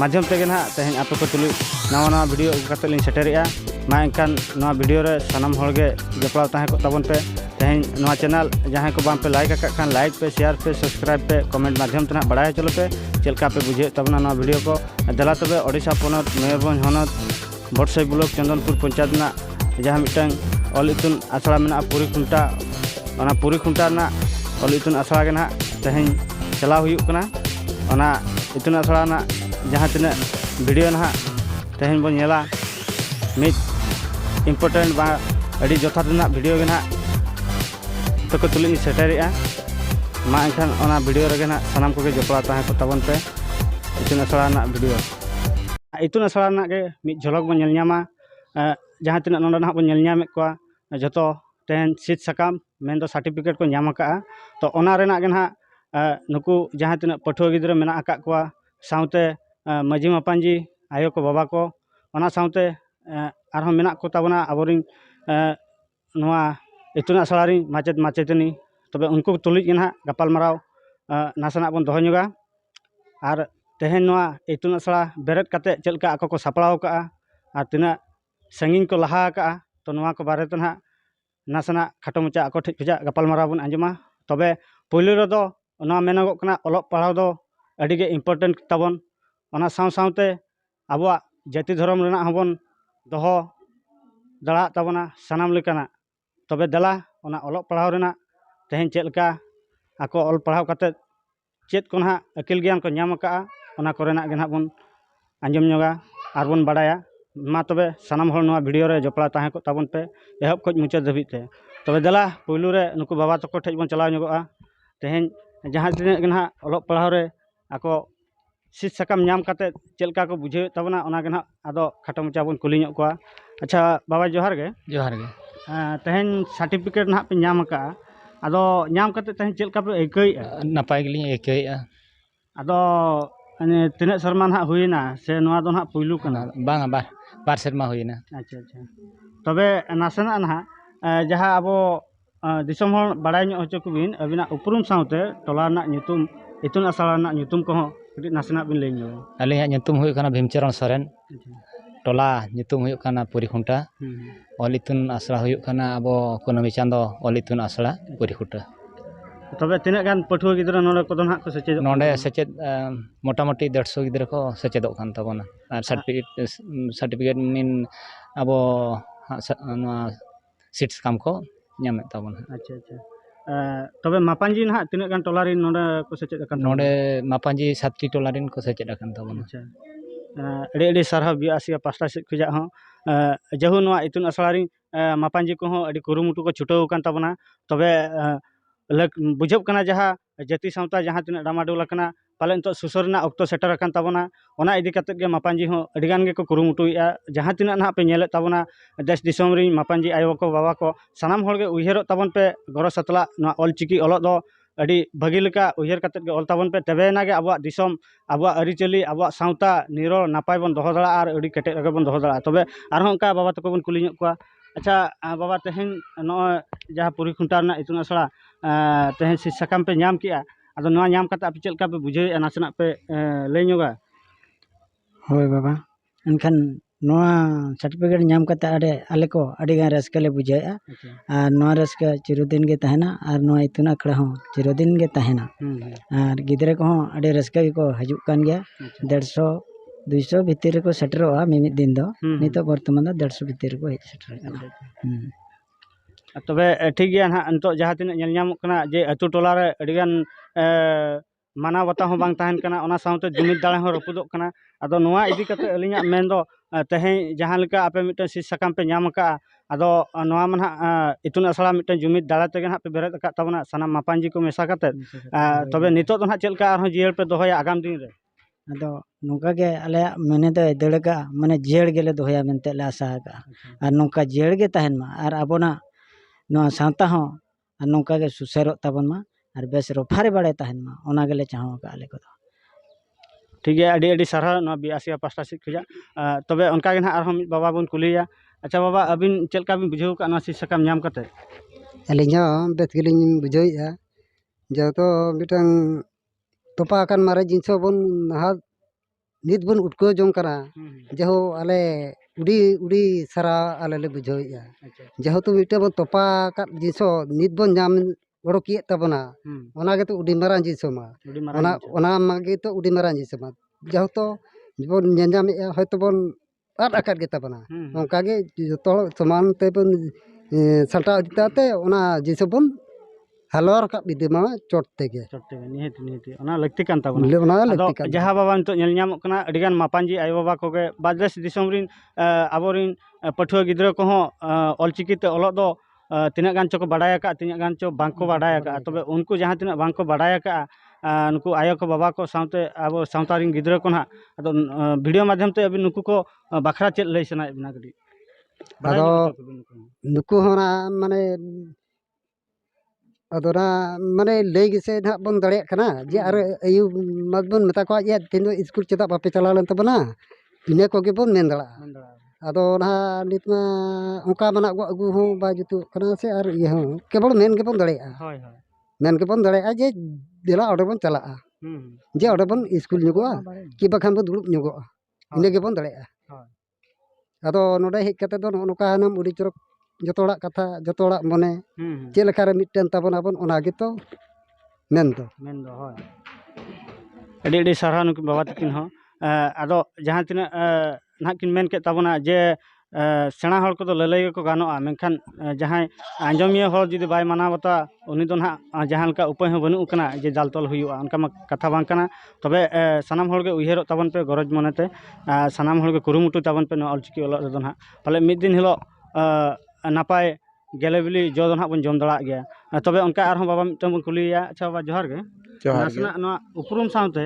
ᱢᱟᱫᱽᱫᱷᱚᱢ ᱛᱮᱜᱮ ᱱᱟᱦᱟᱜ ᱛᱮᱦᱮᱧ ᱟᱯᱮ ᱠᱚ ᱛᱩᱞᱩᱡ ᱱᱟᱣᱟ ᱱᱟᱣᱟ ᱵᱷᱤᱰᱤᱭᱳ ᱟᱹᱜᱩ ᱠᱟᱛᱮᱫ ᱞᱤᱧ ᱥᱮᱴᱮᱨᱮᱜᱼᱟ ᱢᱟ ᱮᱱᱠᱷᱟᱱ ᱱᱚᱣᱟ ᱵᱷᱤᱰᱤᱭᱳ ᱨᱮ ᱥᱟᱱᱟᱢ ᱦᱚᱲ ᱜᱮ ᱡᱚᱯᱲᱟᱣ ᱛᱟᱦᱮᱸ ᱠᱚᱜ ᱛᱟᱵᱚᱱ ᱯᱮ ᱛᱮᱦᱮᱧ ᱱᱚᱣᱟ ᱪᱮᱱᱮᱞ ᱡᱟᱦᱟᱸᱭ ᱠᱚ ᱵᱟᱝᱯᱮ ᱞᱟᱭᱤᱠ ᱟᱠᱟᱫ ᱠᱷᱟᱱ ᱞᱟᱭᱤᱠ ᱯᱮ ᱥᱮᱭᱟᱨ ᱯᱮ ᱥᱟᱵᱥᱠᱨᱟᱭᱤᱵ ᱯᱮ ᱠᱚᱢᱮᱱᱴ ᱢᱟᱫᱽᱫᱷᱚᱢ ᱛᱮ ᱱᱟᱜ ᱵᱟᱲᱟᱭ ᱦᱚᱪᱚ ᱞᱮᱯᱮ ᱪᱮᱫ ᱞᱮᱠᱟ ᱯᱮ ᱵᱩᱡᱷᱟᱹᱣᱮᱫ ᱛᱟᱵᱚᱱᱟ ᱱᱚᱣᱟ ᱵᱷᱤᱰᱤᱭᱳ ᱠᱚ ᱫᱮᱞᱟ ᱛᱚᱵᱮ ᱳᱰᱤᱥᱟ ᱯᱚᱱᱚᱛ ᱢᱚᱭᱩᱨᱵᱷᱚᱸᱡᱽ ᱦᱚᱱᱚᱛ ᱵᱚᱴᱥᱟᱹᱭ ᱵᱞᱚᱠ ᱪᱚᱱᱫᱚᱱᱯᱩᱨ ᱯᱚᱧᱪᱟᱭᱮᱛ ᱨᱮᱱᱟᱜ ᱡᱟᱦᱟᱸ ᱢᱤᱫᱴᱟᱝ ᱚᱞ ᱤᱛᱩᱱ ᱟᱥᱲᱟ ᱢᱮᱱᱟᱜᱼᱟ ᱯᱩᱨᱤ ᱠᱷᱩᱱᱴᱟ ᱚᱱᱟ ᱯᱩᱨᱤ ᱠᱷᱩᱱᱴᱟ ᱨᱮᱱᱟᱜ ᱚᱞ ᱤᱛᱩᱱ ᱟᱥᱲᱟ ᱜᱮ ᱱᱟᱜ ᱛᱮᱦᱮᱧ ᱪᱟᱞᱟᱣ ᱦᱩᱭᱩᱜ ᱠᱟᱱᱟ ᱚᱱᱟ ᱤᱛᱩᱱ ᱟᱥᱲᱟ ᱨᱮᱱᱟᱜ ᱡᱟᱦᱟᱸ ᱛᱤᱱᱟᱹᱜ ᱵᱷᱤᱰᱤᱭᱳ ᱱᱟᱜ ᱛᱮᱦᱮᱧ ᱵᱚᱱ ᱧᱮᱞᱟ ᱢᱤᱫ ᱤᱢᱯᱚᱨᱴᱮᱱᱴ ᱵᱟ ᱟᱹᱰᱤ ᱡᱚᱛᱷᱟᱛ ᱨᱮᱱᱟᱜ ᱵᱷᱤᱰᱤᱭᱳ ᱜᱮ ᱱᱟᱦᱟᱜ ᱡᱚᱛᱚ ᱠᱚ ᱛᱩᱞᱩᱡ ᱤᱧ ᱥᱮᱴᱮᱨᱮᱜᱼᱟ ᱢᱟ ᱮᱱᱠᱷᱟᱱ ᱚᱱᱟ ᱵᱷᱤᱰᱤᱭᱳ ᱨᱮᱜᱮ ᱱᱟᱦᱟᱜ ᱥᱟᱱᱟᱢ ᱠᱚᱜᱮ ᱡᱚᱯᱲᱟᱣ ᱛᱟᱦᱮᱸ ᱠᱚ ᱛᱟᱵᱚᱱ ᱯᱮ ᱤᱛᱩᱱ ᱟᱥᱲᱟ ᱨᱮᱱᱟᱜ ᱵᱷᱤᱰᱤᱭᱳ ᱤᱛᱩᱱ ᱟᱥᱲᱟ ᱨᱮᱱᱟᱜ ᱜᱮ ᱢᱤᱫ ᱡᱷᱚᱞᱚᱠ ᱵᱚᱱ ᱧᱮᱞ ᱧᱟᱢᱟ ᱡᱟᱦᱟᱸ ᱛᱤᱱᱟᱹᱜ ᱱᱚᱰᱮ ᱱᱟᱦᱟᱜ ᱵᱚᱱ ᱧᱮᱞ ᱧᱟᱢᱮᱫ ᱠᱚᱣᱟ ᱡᱚᱛᱚ ᱛᱮᱦᱮᱧ ᱥᱤᱫ ᱥᱟᱠᱟᱢ ᱢᱮᱱᱫᱚ ᱥᱟᱨᱴᱤᱯᱷᱤᱠᱮᱴ ᱠᱚ ᱧᱟᱢ ᱟᱠᱟᱫᱼᱟ ᱛᱚ ᱚᱱᱟ ᱨᱮᱱᱟᱜ ᱜᱮ ᱱᱟᱦᱟᱜ ᱱᱩᱠᱩ ᱡᱟᱦᱟᱸ ᱛᱤᱱᱟᱹᱜ ᱯᱟᱹᱴᱷᱩᱣᱟᱹ ᱜᱤᱫᱽᱨᱟᱹ ᱢᱮᱱᱟᱜ ᱟᱠᱟᱫ ᱠᱚᱣᱟ ᱥᱟᱶᱛᱮ ᱢᱟᱺᱡᱷᱤ ᱢᱟᱯᱟᱧᱡᱤ ᱟᱭᱳ ᱠᱚ ᱵᱟᱵᱟ ᱠᱚ ᱚᱱᱟ ᱥᱟᱶᱛᱮ ᱟᱨᱦᱚᱸ ᱢᱮᱱᱟᱜ ᱠᱚᱛᱟ ᱵᱚᱱᱟ ᱟᱵᱚ ᱨᱮᱱ ᱱᱚᱣᱟ ᱤᱛᱩᱱ ᱟᱥᱲᱟ ᱨᱮᱱ ᱢᱟᱪᱮᱫ ᱢᱟᱪᱮᱛᱟᱹᱱᱤ ᱛᱚᱵᱮ ᱩᱱᱠᱩ ᱠᱚ ᱛᱩᱞᱩᱡ ᱜᱮ ᱱᱟᱦᱟᱜ ᱜᱟᱯᱟᱞ ᱢᱟᱨᱟᱣ ᱱᱟᱥᱮᱱᱟᱜ ᱵᱚᱱ ᱫᱚᱦᱚ ᱧᱚᱜᱟ ᱟᱨ ᱛᱮᱦᱮᱧ ᱱᱚᱣᱟ ᱤᱛᱩᱱ ᱟᱥᱲᱟ ᱵᱮᱨᱮᱫ ᱠᱟᱛᱮᱫ ᱪᱮᱫ ᱞᱮᱠᱟ ᱟᱠᱚ ᱠᱚ ᱥᱟᱯᱲᱟᱣ ᱠᱟᱜᱼᱟ ᱟᱨ ᱛᱤᱱᱟᱹᱜ ᱥᱟᱺᱜᱤᱧ ᱠᱚ ᱞᱟᱦᱟ ᱠᱟᱜᱼᱟ ᱛᱚ ᱱᱚᱣᱟ ᱠᱚ ᱵᱟᱨᱮ ᱛᱮ ᱱᱟᱦᱟᱜ ᱱᱟᱥᱮᱱᱟᱜ ᱠᱷᱟᱴᱚ ᱢᱟᱪᱷᱟ ᱟᱠᱚ ᱴᱷᱮᱱ ᱠᱷᱚᱱᱟᱜ ᱜᱟᱯᱟᱞᱢᱟᱨᱟᱣ ᱵᱚᱱ ᱟᱸᱡᱚᱢᱟ ᱛᱚᱵᱮ ᱯᱳᱭᱞᱳ ᱨᱮᱫᱚ ᱱᱚᱣᱟ ᱢᱮᱱᱚᱜᱚᱜ ᱠᱟᱱᱟ ᱚᱞᱚᱜ ᱯᱟᱲᱦᱟᱣ ᱫᱚ ᱟᱹᱰᱤ ᱜᱮ ᱤᱢᱯᱳᱨᱴᱮᱱᱴ ᱛᱟᱵᱚᱱ ᱚᱱᱟ ᱥᱟᱶ ᱥᱟᱶᱛᱮ ᱟᱵᱚᱣᱟᱜ ᱡᱟᱹᱛᱤ ᱫᱷᱚᱨᱚᱢ ᱨᱮᱱᱟᱜ ᱦᱚᱸᱵᱚᱱ ᱫᱚᱦᱚ ᱫᱟᱲᱮᱭᱟᱜ ᱛᱟᱵᱚᱱᱟ ᱥᱟᱱᱟᱢ ᱞᱮᱠᱟᱱᱟᱜ ᱛᱚᱵᱮ ᱫᱮᱞᱟ ᱚᱱᱟ ᱚᱞᱚᱜ ᱯᱟᱲᱦᱟᱣ ᱨᱮᱱᱟᱜ ᱛᱮᱦᱮᱧ ᱪᱮᱫ ᱞᱮᱠᱟ ᱟᱠᱚ ᱚᱞ ᱯᱟᱲᱦᱟᱣ ᱠᱟᱛᱮᱫ ᱪᱮᱫ ᱠᱚ ᱱᱟᱦᱟᱜ ᱟᱹᱠᱤᱞ ᱜᱮᱭᱟᱱ ᱠᱚ ᱧᱟᱢ ᱠᱟᱜᱼᱟ ᱚᱱᱟ ᱠᱚᱨᱮᱱᱟᱜ ᱜᱮ ᱱᱟᱦᱟᱜ ᱵᱚᱱ ᱟᱸᱡᱚᱢ ᱧᱚᱜᱟ ᱟᱨ ᱵᱚᱱ ᱵᱟᱲᱟᱭᱟ ᱢᱟ ᱛᱚᱵᱮ ᱥᱟᱱᱟᱢ ᱦᱚᱲ ᱱᱚᱣᱟ ᱵᱷᱤᱰᱭᱳ ᱨᱮ ᱡᱚᱯᱲᱟᱣ ᱛᱟᱦᱮᱸ ᱠᱚᱜ ᱛᱟᱵᱚᱱ ᱯᱮ ᱮᱦᱚᱵ ᱠᱷᱚᱱ ᱢᱩᱪᱟᱹᱫ ᱫᱷᱟᱹᱵᱤᱡ ᱛᱮ ᱛᱚᱵᱮ ᱫᱮᱞᱟ ᱯᱳᱭᱞᱳ ᱨᱮ ᱱᱩᱠᱩ ᱵᱟᱵᱟ ᱛᱟᱠᱚ ᱴᱷᱮᱱ ᱵᱚᱱ ᱪᱟᱞᱟᱣ ᱧᱚᱜᱚᱜᱼᱟ ᱛᱮᱦᱮᱧ ᱡᱟᱦᱟᱸ ᱛᱤᱱᱟᱹᱜ ᱜᱮ ᱱᱟᱦᱟᱜ ᱚᱞᱚᱜ ᱯᱟᱲᱦᱟᱣ ᱨᱮ ᱟᱠᱚ ᱥᱤᱫ ᱥᱟᱠᱟᱢ ᱧᱟᱢ ᱠᱟᱛᱮ ᱪᱮᱫ ᱞᱮᱠᱟ ᱠᱚ ᱵᱩᱡᱷᱟᱹᱣᱮᱫ ᱛᱟᱵᱚᱱᱟ ᱚᱱᱟ ᱜᱮ ᱱᱟᱦᱟᱜ ᱟᱫᱚ ᱠᱷᱟᱴᱚ ᱢᱟᱪᱷᱟ ᱵᱚᱱ ᱠᱩᱞᱤ ᱧᱚᱜ ᱠᱚᱣᱟ ᱟᱪᱪᱷᱟ ᱵᱟᱵᱟ ᱡᱚᱦᱟᱨ ᱜᱮ ᱡᱚᱦᱟᱨ ᱜᱮ ᱛᱮᱦᱮᱧ ᱥᱟᱨᱴᱤᱯᱷᱤᱠᱮᱴ ᱱᱟᱦᱟᱜ ᱯᱮ ᱧᱟᱢ ᱟᱠᱟᱜᱼᱟ ᱟᱫᱚ ᱧᱟᱢ ᱠᱟᱛᱮ ᱛᱮᱦᱮᱧ ᱪᱮᱫ ᱞᱮᱠᱟ ᱯᱮ ᱟᱹᱭᱠᱟᱹᱣᱮᱫᱼᱟ ᱱᱟᱯᱟᱭ ᱜᱮᱞᱤᱧ ᱟᱹᱭᱠᱟᱹᱣᱮᱫᱼᱟ ᱟᱫᱚ ᱛᱤᱱᱟᱹᱜ ᱥᱮᱨᱢᱟ ᱱᱟᱦᱟᱜ ᱦᱩᱭᱮᱱᱟ ᱥᱮ ᱱᱚᱣᱟ ᱫᱚ ᱱᱟᱦᱟᱜ ᱯᱩᱭᱞᱩ ᱠᱟᱱᱟ ᱵᱟᱝᱟ ᱵᱟᱨ ᱵᱟᱨ ᱥᱮᱨᱢᱟ ᱦᱩᱭᱮᱱᱟ ᱟᱪᱪᱷᱟ ᱟᱪᱪᱷᱟ ᱛᱚᱵᱮ ᱱᱟᱥᱮᱱᱟᱜ ᱱᱟᱦᱟᱜ ᱡᱟᱦᱟᱸ ᱟᱵᱚ ᱫᱤᱥᱚᱢ ᱦᱚᱲ ᱵᱟᱲᱟᱭ ᱧᱚᱜ ᱦᱚᱪᱚ ᱠᱚᱵᱤᱱ ᱟᱹᱵᱤᱱᱟᱜ ᱩᱯᱨᱩᱢ ᱥᱟᱶᱛᱮ ᱴᱚᱞᱟ ᱨᱮᱱᱟᱜ ᱧᱩᱛᱩᱢ ᱤᱛᱩᱱ ᱟᱥᱲᱟ ᱨᱮᱱᱟᱜ ᱧᱩᱛᱩᱢ ᱠᱚᱦᱚᱸ ᱠᱟᱹᱴᱤᱡ ᱱᱟᱥᱮᱱᱟᱜ ᱵᱤᱱ ᱞᱟᱹᱭ ᱧᱚᱜᱟ ᱟᱹᱞᱤᱧᱟᱜ ᱧᱩᱛᱩᱢ ᱦᱩᱭᱩᱜ ᱠᱟᱱᱟ ᱵᱷᱤᱢᱪᱚᱨᱚᱱ ᱥᱚᱨᱮᱱ ᱴᱚᱞᱟ ᱧᱩᱛᱩᱢ ᱦᱩᱭᱩᱜ ᱠᱟᱱᱟ ᱯᱩᱨᱤᱠᱷᱩᱱᱴᱟ ᱚᱞ ᱤᱛᱩᱱ ᱟᱥᱲᱟ ᱦᱩᱭᱩᱜ ᱠᱟᱱᱟ ᱟᱵᱚ ᱠᱩᱱᱟᱹᱢᱤ ᱪᱟᱸᱫᱚ ᱚᱞ ᱤᱛᱩᱱ ᱟᱥᱲᱟ ᱯᱩᱨᱤᱠᱷᱩᱴᱟᱹ ᱛᱚᱵᱮ ᱛᱤᱱᱟᱹᱜ ᱜᱟᱱ ᱯᱟᱹᱴᱷᱩᱣᱟᱹ ᱜᱤᱫᱽᱨᱟᱹ ᱱᱚᱰᱮ ᱠᱚᱫᱚ ᱱᱟᱦᱟᱜ ᱠᱚ ᱥᱮᱪᱮᱫᱚᱜ ᱱᱚᱰᱮ ᱥᱮᱪᱮᱫ ᱢᱚᱴᱟᱢᱩᱴᱤ ᱫᱮᱲᱥᱚ ᱜᱤᱫᱽᱨᱟᱹ ᱠᱚ ᱥᱮᱪᱮᱫᱚᱜ ᱠᱟᱱ ᱛᱟᱵᱚᱱᱟ ᱟᱨ ᱥᱟᱨᱴᱤᱯᱷᱤᱠᱮᱴ ᱥᱟᱨᱴᱤᱯᱷᱤᱠᱮᱴ ᱢᱤᱱ ᱟᱵᱚ ᱱᱚᱣᱟ ᱥᱤᱴ ᱥᱟᱠᱟᱢ ᱠᱚ ᱧᱟᱢᱮᱫ ᱛᱟᱵᱚᱱᱟ ᱟᱪᱪᱷᱟ ᱟᱪᱪᱷᱟ ᱛᱚᱵᱮ ᱢᱟᱯᱟᱧᱡᱤ ᱱᱟᱦᱟᱜ ᱛᱤᱱᱟᱹᱜ ᱜᱟᱱ ᱴᱚᱞᱟ ᱨᱮᱱ ᱱᱚᱰᱮ ᱠᱚ ᱥᱮᱪᱮᱫ ᱟᱠᱟᱱ ᱱᱚᱰᱮ ᱢᱟᱯᱟᱧᱡᱤ ᱥᱟᱛᱴᱤ ᱴᱚᱞᱟ ᱨᱮᱱ ᱠᱚ ᱥᱮᱪᱮᱫ ᱟᱠᱟᱱ ᱛᱟᱵᱚᱱᱟ ᱟᱪᱪᱷᱟ ᱟᱹᱰᱤ ᱟᱹᱰᱤ ᱥᱟᱨᱦᱟᱣ ᱵᱤ ᱟᱨ ᱥᱤ ᱯᱟᱥᱴᱟ ᱥᱮᱫ ᱠᱷᱚᱱᱟᱜ ᱦᱚᱸ ᱡᱟᱹᱦᱩ ᱱᱚᱣᱟ ᱤᱛᱩᱱ ᱟᱥᱲᱟ ᱨᱮᱱ ᱢᱟᱯᱟᱧᱡᱤ ᱠᱚᱦᱚᱸ ᱟᱹᱰᱤ ᱠᱩᱨᱩᱢᱩᱴᱩ ᱠᱚ ᱪᱷᱩᱴᱟᱹᱣ ᱟᱠᱟᱱ ᱛᱟᱵᱚᱱᱟ ᱛᱚᱵᱮ ᱵᱩᱡᱷᱟᱹᱜ ᱠᱟᱱᱟ ᱡᱟᱦᱟᱸ ᱡᱟᱹᱛᱤ ᱥᱟᱶᱛᱟ ᱡᱟᱦᱟᱸ ᱛᱤᱱᱟᱹᱜ ᱰᱟᱢᱟᱰᱳᱞ ᱟᱠᱟᱱᱟ ᱯᱟᱞᱮ ᱱᱤᱛᱚᱜ ᱥᱩᱥᱟᱹᱨ ᱨᱮᱱᱟᱜ ᱚᱠᱛᱚ ᱥᱮᱴᱮᱨ ᱟᱠᱟᱱ ᱛᱟᱵᱚᱱᱟ ᱚᱱᱟ ᱤᱫᱤ ᱠᱟᱛᱮᱫ ᱜᱮ ᱢᱟᱯᱟᱡᱤ ᱦᱚᱸ ᱟᱹᱰᱤ ᱜᱟᱱ ᱜᱮᱠᱚ ᱠᱩᱨᱩᱢᱩᱴᱩᱭᱮᱫᱼᱟ ᱡᱟᱦᱟᱸ ᱛᱤᱱᱟᱹᱜ ᱱᱟᱦᱟᱜ ᱯᱮ ᱧᱮᱞᱮᱫ ᱛᱟᱵᱚᱱᱟ ᱫᱮᱥ ᱫᱤᱥᱚᱢ ᱨᱮᱱ ᱢᱟᱯᱟᱡᱤ ᱟᱭᱳ ᱠᱚ ᱵᱟᱵᱟ ᱠᱚ ᱥᱟᱱᱟᱢ ᱦᱚᱲ ᱜᱮ ᱩᱭᱦᱟᱹᱨᱚᱜ ᱛᱟᱵᱚᱱ ᱯᱮ ᱜᱚᱲᱚ ᱥᱚᱛᱞᱟᱜ ᱱᱚᱣᱟ ᱚᱞ ᱪᱤᱠᱤ ᱚᱞᱚᱜ ᱫᱚ ᱟᱹᱰᱤ ᱵᱷᱟᱹᱜᱤ ᱞᱮᱠᱟ ᱩᱭᱦᱟᱹᱨ ᱠᱟᱛᱮᱫ ᱜᱮ ᱚᱞ ᱛᱟᱵᱚᱱ ᱯᱮ ᱛᱚᱵᱮ ᱟᱱᱟᱜ ᱜᱮ ᱟᱵᱚᱣᱟᱜ ᱫᱤᱥᱚᱢ ᱟᱵᱚᱣᱟᱜ ᱟᱹᱨᱤᱪᱟᱹᱞᱤ ᱟᱵᱚᱣᱟᱜ ᱥᱟᱶᱛᱟ ᱱᱤᱨᱚᱲ ᱱᱟᱯᱟᱭ ᱵᱚᱱ ᱫᱚᱦᱚ ᱫᱟᱲᱮᱭᱟᱜᱼᱟ ᱟᱨ ᱟᱹᱰᱤ ᱠᱮᱴᱮᱡ ᱨᱮᱜᱮ ᱵᱚᱱ ᱫᱚᱦᱚ ᱫᱟᱲᱮᱭᱟᱜᱼᱟ ᱛᱚᱵᱮ ᱟᱨᱦᱚᱸ ᱚᱱᱠᱟ ᱵᱟᱵᱟ ᱛᱟᱠᱚ ᱵᱚᱱ ᱠᱩᱞᱤ ᱧᱚᱜ ᱠᱚᱣᱟ ᱟᱪᱪᱷᱟ ᱵᱟᱵᱟ ᱛᱮᱦᱮᱧ ᱱᱚᱜᱼᱚᱭ ᱡᱟᱦᱟᱸ ᱯᱩᱨᱤ ᱠᱷᱩᱱᱴᱟᱹᱣ ᱨᱮᱱᱟᱜ ᱤᱛᱩᱱ ᱟᱥᱲᱟ ᱛᱮᱦᱮᱧ ᱥᱤᱫ ᱥᱟᱠᱟᱢ ᱯᱮ ᱧᱟᱢ ᱠᱮᱜᱼᱟ ᱟᱫᱚ ᱱᱚᱣᱟ ᱧᱟᱢ ᱠᱟᱛᱮ ᱟᱯᱮ ᱪᱮᱫ ᱞᱮᱠᱟ ᱯᱮ ᱵᱩᱡᱷᱟᱹᱣᱮᱜᱼᱟ ᱱᱟᱥᱮᱱᱟᱜ ᱯᱮ ᱞᱟᱹᱭ ᱧᱚᱜᱟ ᱦᱳᱭ ᱵᱟᱵᱟ ᱮᱱᱠᱷᱟᱱ ᱱᱚᱣᱟ ᱥᱟᱨᱴᱤᱯᱷᱤᱠᱮᱴ ᱧᱟᱢ ᱠᱟᱛᱮ ᱟᱹᱰᱤ ᱟᱞᱮ ᱠᱚ ᱟᱹᱰᱤ ᱜᱟᱱ ᱨᱟᱹᱥᱠᱟᱹ ᱞᱮ ᱵᱩᱡᱷᱟᱹᱣᱮᱜᱼᱟ ᱟᱨ ᱱᱚᱣᱟ ᱨᱟᱹᱥᱠᱟᱹ ᱪᱤᱨᱚᱫᱤᱱ ᱜᱮ ᱛᱟᱦᱮᱱᱟ ᱟᱨ ᱱᱚᱣᱟ ᱤᱛᱩᱱ ᱟᱥᱲᱟ ᱦᱚᱸ ᱪᱤᱨᱚᱫᱤᱱ ᱜᱮ ᱛᱟᱦᱮᱱᱟ ᱟᱨ ᱜᱤᱫᱽᱨᱟᱹ ᱠᱚᱦᱚᱸ ᱟᱹᱰᱤ ᱨᱟᱹᱥᱠᱟᱹ ᱜᱮᱠᱚ ᱦᱤᱡᱩᱜ ᱠᱟᱱ ᱜᱮᱭᱟ ᱫᱮᱲᱥᱚ ᱫᱩᱭᱥᱚ ᱵᱷᱤᱛᱤᱨ ᱨᱮᱠᱚ ᱥᱮᱴᱮᱨᱚᱜᱼᱟ ᱢᱤᱢᱤᱫ ᱫᱤᱱ ᱫᱚ ᱦᱩᱸ ᱦᱩᱸ᱾ ᱱᱤᱛᱚᱜ ᱵᱚᱨᱛᱚᱢᱟᱱ ᱫᱚ ᱫᱮᱲᱥᱚ ᱵᱷᱤᱛᱤᱨ ᱨᱮᱠᱚ ᱦᱮᱡ ᱥᱮᱴᱮᱨ ᱠᱟᱱᱟ ᱦᱩᱸ ᱟᱨ ᱛᱚᱵᱮ ᱮ, ᱴᱷᱤᱠ ᱜᱮᱭᱟ ᱱᱟᱦᱟᱜ ᱱᱤᱛᱚᱜ ᱡᱟᱦᱟᱸ ᱛᱤᱱᱟᱹᱜ ᱧᱮᱞ ᱧᱟᱢᱚᱜ ᱠᱟᱱᱟ ᱡᱮ ᱟᱛᱳ ᱴᱚᱞᱟ ᱨᱮ ᱟᱹᱰᱤᱜᱟᱱ ᱮ, ᱢᱟᱱᱟᱣ ᱵᱟᱛᱟᱣ ᱦᱚᱸ ᱵᱟᱝ ᱛᱟᱦᱮᱱ ᱠᱟᱱᱟ ᱚᱱᱟ ᱥᱟᱶᱛᱮ ᱡᱩᱢᱤᱫ ᱫᱟᱲᱮ ᱦᱚᱸ ᱨᱟᱹᱯᱩᱫᱚᱜ ᱠᱟᱱᱟ ᱟᱫᱚ ᱱᱚᱣᱟ ᱤᱫᱤ ᱠᱟᱛᱮ ᱟᱹᱞᱤᱧᱟᱜ ᱢᱮᱱ ᱫᱚ ᱮ, ᱛᱮᱦᱮᱧ ᱡᱟᱦᱟᱸ ᱞᱮᱠᱟ ᱟᱯᱮ ᱢᱤᱫᱴᱮᱱ ᱥᱤᱫ ᱥᱟᱠᱟᱢ ᱯᱮ ᱧᱟᱢ ᱟᱠᱟᱜᱼᱟ ᱟᱫᱚ ᱮ, ᱱᱚᱣᱟ ᱢᱟ ᱱᱟᱦᱟᱜ ᱮ, ᱤᱛᱩᱱ ᱟᱥᱲᱟ ᱢᱤᱫᱴᱮᱱ ᱡᱩᱢᱤᱫ ᱫᱟᱲᱮ ᱛᱮᱜᱮ ᱱᱟᱦᱟᱜ ᱯᱮ ᱵᱮᱨᱮᱫ ᱟᱠᱟᱫ ᱛᱟᱵᱚᱱᱟ ᱥᱟᱱᱟᱢ ᱢᱟᱯᱟᱧᱡᱤ ᱠᱚ ᱢᱮᱥᱟ ᱠᱟᱛᱮ ᱮ, ᱛᱚᱵᱮ ᱱᱤᱛᱚᱜ ᱫᱚ ᱱᱟᱦᱟᱜ ᱪᱮᱫ ᱞᱮᱠᱟ ᱟᱨᱦᱚᱸ ᱡᱤᱭᱟᱹᱲ ᱯᱮ ᱫᱚᱦᱚᱭᱟ ᱟᱜᱟᱢ ᱫᱤᱱ ᱨᱮ ᱟᱫᱚ ᱱᱚᱝᱠᱟ ᱜᱮ ᱟᱞᱮᱭᱟᱜ ᱢᱚᱱᱮ ᱫᱚᱭ ᱫᱟᱹᱲ ᱠᱟᱜᱼᱟ ᱢᱟᱱᱮ ᱡᱤᱭᱟᱹᱲ ᱜᱮᱞᱮ ᱫᱚᱦᱚᱭᱟ ᱢᱮᱱᱛᱮ ᱞᱮ ᱟᱥᱟ ᱠᱟᱜᱼᱟ ᱟᱨ ᱱᱚᱝᱠᱟ ᱡᱤᱭᱟᱹᱲ ᱜᱮ ᱛᱟᱦᱮᱱ ᱢᱟ ᱟᱨ ᱟᱵᱚᱱᱟᱜ ᱱᱚᱣᱟ ᱥᱟᱶᱛᱟ ᱦᱚᱸ ᱟᱨ ᱱᱚᱝᱠᱟ ᱜᱮ ᱥᱩᱥᱟᱹᱨᱚᱜ ᱛᱟᱵᱚᱱ ᱢᱟ ᱟᱨ ᱵᱮᱥ ᱨᱚᱯᱷᱟᱭ ᱵᱟᱲᱮ ᱛᱟᱦᱮᱱ ᱢᱟ ᱚᱱᱟ ᱜᱮᱞᱮ ᱪᱟᱦᱟᱣ ᱠᱟᱜᱼᱟ ᱟᱞᱮ ᱠᱚᱫᱚ ᱴᱷᱤᱠ ᱜᱮᱭᱟ ᱟᱹᱰᱤ ᱟᱹᱰᱤ ᱥᱟᱨᱦᱟᱣ ᱱᱚᱣᱟ ᱵᱤ ᱟᱥᱤᱭᱟ ᱯᱟᱥᱴᱟ ᱥᱮᱫ ᱠᱷᱚᱱᱟᱜ ᱛᱚᱵᱮ ᱚᱱᱠᱟ ᱜᱮ ᱱᱟᱦᱟᱜ ᱟᱨᱦᱚᱸ ᱢᱤᱫ ᱵᱟᱵᱟ ᱵᱚᱱ ᱠᱩᱞᱤᱭᱮᱭᱟ ᱟᱪᱪᱷᱟ ᱵᱟᱵᱟ ᱟᱹᱵᱤᱱ ᱪᱮᱫ ᱞᱮᱠᱟ ᱵᱤᱱ ᱵᱩᱡᱷᱟᱹᱣ ᱠᱟᱜᱼᱟ ᱱᱚᱣᱟ ᱥᱤᱫᱽ ᱥᱟᱠᱟᱢ ᱧᱟᱢ ᱠᱟᱛᱮᱫ ᱟᱹᱞᱤᱧ ᱦᱚᱸ ᱵᱮᱥ ᱜᱮᱞᱤᱧ ᱵᱩᱡᱷᱟᱹᱣᱮᱫᱼᱟ ᱡᱮᱦᱮᱛᱩ ᱢᱤᱫᱴᱟᱝ ᱛᱚᱯᱟ ᱟᱠᱟᱱ ᱢᱟᱨᱮ ᱡᱤᱱᱤᱥ ᱦᱚᱸ ᱵᱚᱱ ᱱᱟᱦᱟᱜ ᱱᱤᱛ ᱵᱚᱱ ᱩᱴᱠᱟᱹᱣ ᱡᱚᱝ ᱠᱟᱱᱟ ᱡᱮᱦᱳ ᱟᱞᱮ ᱟᱹᱰᱤ ᱟᱹᱰᱤ ᱥᱟᱨᱦᱟᱣ ᱟᱞᱮ ᱞᱮ ᱵᱩᱡᱷᱟᱹᱣᱮᱜᱼᱟ ᱡᱮᱦᱮᱛᱩ ᱢᱤᱫᱴᱮᱡ ᱵᱚᱱ ᱛᱚᱯᱟ ᱟᱠᱟᱫ ᱡᱤᱱᱤᱥ ᱦᱚᱸ ᱱᱤᱛ ᱵᱚᱱ ᱧᱟᱢ ᱚᱰᱚᱠᱮᱜ ᱛᱟᱵᱚᱱᱟ ᱚᱱᱟ ᱜᱮᱛᱚ ᱟᱹᱰᱤ ᱢᱟᱨᱟᱝ ᱡᱤᱱᱤᱥ ᱢᱟ ᱚᱱᱟ ᱚᱱᱟ ᱜᱮᱛᱚ ᱟᱹᱰᱤ ᱢᱟᱨᱟᱝ ᱡᱤᱱᱤᱥ ᱢᱟ ᱡᱮᱦᱮᱛᱩ ᱵᱚᱱ ᱧᱮᱞ ᱧᱟᱢᱮᱜᱼᱟ ᱦᱚᱭᱛᱳ ᱵᱚᱱ ᱟᱫ ᱟᱠᱟᱫ ᱜᱮᱛᱟ ᱵᱚᱱᱟ ᱚᱱᱠᱟ ᱜᱮ ᱡᱚᱛᱚ ᱦᱚᱲ ᱥᱚᱢᱟᱱ ᱛᱮᱵᱚᱱ ᱥᱟᱢᱴᱟᱣ ᱤᱫᱤ ᱠᱟᱛᱮ ᱚᱱᱟ ᱡᱮᱭᱥᱮ ᱵᱚᱱ ᱦᱟᱞᱚ ᱨᱟᱠᱟᱵ ᱤᱫᱤ ᱢᱟ ᱪᱚᱴ ᱛᱮᱜᱮ ᱪᱚᱴ ᱛᱮᱜᱮ ᱱᱤᱦᱟᱹᱛ ᱱᱤᱦᱟᱹᱛ ᱚᱱᱟ ᱞᱟᱹᱠᱛᱤ ᱠᱟᱱ ᱛᱟᱵᱚᱱᱟ ᱚᱱᱟ ᱟᱫᱚ ᱞᱟᱹᱠᱛᱤ ᱠᱟᱱ ᱡᱟᱦᱟᱸ ᱵᱟᱵᱟ ᱱᱤᱛᱚᱜ ᱧᱮᱞ ᱧᱟᱢᱚᱜ ᱠᱟᱱᱟ ᱟᱹᱰᱤ ᱜᱟᱱ ᱢᱟᱯᱟᱱᱡᱤ ᱟᱭᱳ ᱵᱟᱵᱟ ᱠᱚᱜᱮ ᱵᱟᱫᱽ ᱫᱮᱥ ᱫᱤᱥᱚᱢ ᱨᱤᱱ ᱟᱵᱚᱨᱤᱱ ᱯᱟᱹᱴᱷᱩᱣᱟᱹ ᱜᱤᱫᱽᱨᱟᱹ ᱠᱚᱦᱚᱸ ᱚᱞᱪᱤᱠᱤ ᱛᱮ ᱚᱞᱚᱜ ᱫᱚ ᱛᱤᱱᱟᱹᱜ ᱜᱟᱱ ᱪᱚᱠᱚ ᱵᱟᱰᱟᱭ ᱟᱠᱟᱫᱼᱟ ᱛᱤᱱᱟᱹᱜ ᱜᱟᱱ ᱪᱚ ᱵᱟᱝ ᱠᱚ ᱵᱟᱰᱟᱭ ᱟᱠᱟᱫᱼᱟ ᱛᱚᱵᱮ ᱩᱱᱠᱩ ᱡᱟᱦᱟᱸ ᱛᱤᱱᱟᱹᱜ ᱵᱟᱝ ᱠᱚ ᱵᱟᱰᱟᱭ ᱟᱠᱟᱫᱼᱟ ᱱᱩᱠᱩ ᱟᱭᱳ ᱠᱚ ᱵᱟᱵᱟ ᱠᱚ ᱥᱟᱶᱛᱮ ᱟᱵᱚ ᱥᱟᱶᱛᱟ ᱨᱮᱱ ᱜᱤᱫᱽᱨᱟᱹ ᱠᱚ ᱱᱟᱦᱟᱜ ᱟᱫᱚ ᱵᱷᱤᱰᱤᱭᱳ ᱢᱟᱫᱽᱫᱷᱚᱢ ᱛᱮ ᱟᱹᱵᱤᱱ ᱱᱩᱠᱩ ᱠᱚ ᱵᱟᱠᱷᱨᱟ ᱪᱮᱫ ᱞᱟᱹᱭ ᱥᱟᱱᱟᱭᱮᱫ ᱵᱮᱱᱟ ᱠᱟᱹᱴᱤᱡ ᱟᱫᱚ ᱱᱩᱠᱩ ᱦᱚᱸ ᱱᱟᱦᱟᱜ ᱢᱟᱱᱮ ᱟᱫᱚ ᱱᱟᱦᱟᱜ ᱢᱟᱱᱮ ᱞᱟᱹᱭ ᱜᱮᱥᱮ ᱱᱟᱦᱟᱜ ᱵᱚᱱ ᱫᱟᱲᱮᱭᱟᱜ ᱠᱟᱱᱟ ᱡᱮ ᱟᱨ ᱟᱹᱭᱩ ᱢᱟᱛᱚ ᱵᱚᱱ ᱢᱮᱛᱟ ᱠᱚᱣᱟ ᱡᱮ ᱛᱮᱦᱮᱧ ᱫᱚ ᱥᱠᱩᱞ ᱪᱮᱫᱟᱜ ᱵᱟᱯᱮ ᱪᱟᱞᱟᱣ ᱞᱮᱱ ᱛᱟᱵᱚᱱᱟ ᱤᱱᱟᱹ ᱠᱚᱜᱮ ᱵᱚᱱ ᱢᱮᱱ ᱫᱟᱲᱮᱭᱟᱜᱼᱟ ᱟᱫᱚ ᱱᱟᱦᱟᱜ ᱱᱤᱛ ᱢᱟ ᱚᱱᱠᱟ ᱢᱟ ᱱᱟᱦᱟᱜ ᱜᱚᱜ ᱟᱹᱜᱩ ᱦᱚᱸ ᱵᱟᱭ ᱡᱩᱛᱩᱜ ᱠᱟᱱᱟ ᱥᱮ ᱟᱨ ᱤᱭᱟᱹ ᱦᱚᱸ ᱠᱮᱵᱚᱞ ᱢᱮᱱ ᱜᱮᱵᱚᱱ ᱫᱟᱲᱮᱭᱟᱜᱼᱟ ᱦᱳᱭ ᱦᱳᱭ ᱢᱮᱱ ᱜᱮᱵᱚᱱ ᱫᱟᱲᱮᱭᱟᱜᱼᱟ ᱡᱮ ᱫᱮᱞᱟ ᱚᱸᱰᱮ ᱵᱚᱱ ᱪᱟᱞᱟᱜᱼᱟ ᱦᱮᱸ ᱡᱮ ᱚᱸᱰᱮ ᱵᱚᱱ ᱥᱠᱩᱞ ᱧᱚᱜᱚᱜᱼᱟ ᱠᱤ ᱵᱟᱠᱷᱟᱱ ᱵᱚᱱ ᱫᱩᱲᱩᱵ ᱧᱚᱜᱚᱜᱼᱟ ᱤᱱᱟᱹ ᱜᱮᱵᱚᱱ ᱫᱟᱲᱮᱭᱟᱜᱼᱟ ᱦᱳᱭ ᱟᱫᱚ ᱱᱚᱰᱮ ᱦᱮᱡ ᱠᱟᱛᱮᱫ ᱫᱚ ᱱᱚᱜᱼᱚ ᱱᱚᱝᱠᱟ ᱦᱩᱱᱟᱹᱝ ᱟᱹᱰᱤ ᱪᱚᱨᱚᱠ ᱡᱚᱛᱚ ᱦᱚᱲᱟᱜ ᱠᱟᱛᱷᱟ ᱡᱚᱛᱚ ᱦᱚᱲᱟᱜ ᱢᱚᱱᱮ ᱪᱮᱫ ᱞᱮᱠᱟᱨᱮ ᱢᱤᱫᱴᱮᱱ ᱛᱟᱵᱚᱱ ᱟᱵᱚᱱ ᱚᱱᱟ ᱜᱮᱛᱚ ᱢᱮᱱ ᱫᱚ ᱢᱮᱱ ᱫᱚ ᱦᱳᱭ ᱟᱹᱰᱤ ᱟᱹᱰᱤ ᱥᱟᱨᱦᱟᱣ ᱱᱩᱠᱤᱱ ᱵᱟᱵᱟ ᱛᱟᱹᱠᱤᱱ ᱦᱚᱸ ᱟᱫᱚ ᱡᱟᱦᱟᱸ ᱛᱤᱱᱟᱹᱜ ᱱᱟᱦᱟᱜ ᱠᱤᱱ ᱢᱮᱱ ᱠᱮᱫ ᱛᱟᱵᱚᱱᱟ ᱡᱮ ᱥᱮᱬᱟ ᱦᱚᱲ ᱠᱚᱫᱚ ᱞᱟᱹᱞᱟᱹᱭ ᱜᱮᱠᱚ ᱜᱟᱱᱚᱜᱼᱟ ᱢᱮᱱᱠᱷᱟᱱ ᱡᱟᱦᱟᱸᱭ ᱟᱸᱡᱚᱢᱤᱭᱟᱹ ᱦᱚᱲ ᱡᱩᱫᱤ ᱵᱟᱭ ᱢᱟᱱᱟᱣ ᱵᱟᱛᱟᱣᱟ ᱩᱱᱤ ᱫᱚ ᱱᱟᱦᱟᱜ ᱡᱟᱦᱟᱸ ᱞᱮᱠᱟ ᱩᱯᱟᱹᱭ ᱦᱚᱸ ᱵᱟᱹᱱᱩᱜ ᱟᱠᱟᱱᱟ ᱡᱮ ᱫᱟᱞ ᱛᱚᱞ ᱦᱩᱭᱩᱜᱼᱟ ᱚᱱᱠᱟ ᱢᱟ ᱠᱟᱛᱷᱟ ᱵᱟᱝ ᱠᱟᱱᱟ ᱛᱚᱵᱮ ᱥᱟᱱᱟᱢ ᱦᱚᱲ ᱜᱮ ᱩᱭᱦᱟᱹᱨᱚᱜ ᱛᱟᱵᱚᱱ ᱯᱮ ᱜᱚᱨᱚᱡᱽ ᱢᱚᱱᱮ ᱛᱮ ᱟᱨ ᱥᱟᱱᱟᱢ ᱦᱚᱲ ᱜᱮ ᱠᱩᱨᱩᱢᱩᱴᱩᱭ ᱛᱟᱵᱚᱱ ᱯᱮ ᱱᱚᱣᱟ ᱚᱞ ᱪᱤᱠᱤ ᱚᱞᱚᱜ ᱨᱮᱫᱚ ᱱᱟᱦᱟᱜ ᱯᱟᱞᱮᱫ ᱢᱤᱫ ᱫᱤᱱ ᱦᱤᱞᱳᱜ ᱱᱟᱯᱟᱭ ᱜᱮᱞᱮ ᱵᱤᱞᱤ ᱡᱚ ᱫᱚ ᱱᱟᱦᱟᱜ ᱵᱚᱱ ᱡᱚᱢ ᱫᱟᱲᱮᱭᱟᱜ ᱜᱮᱭᱟ ᱛᱚᱵᱮ ᱚᱱᱠᱟ ᱟᱨ ᱦᱚᱸ ᱵᱟᱵᱟ ᱢᱤᱫᱴᱟᱝ ᱵᱚᱱ ᱠᱩᱞᱤᱭᱮᱭᱟ ᱟᱪᱪᱷᱟ ᱵᱟᱵᱟ ᱡᱚᱦᱟᱨ ᱜᱮ ᱡᱚᱦᱟᱨ ᱜᱮ ᱱᱟᱥᱮᱱᱟᱜ ᱱᱚᱣᱟ ᱩᱯᱨᱩᱢ ᱥᱟᱶᱛᱮ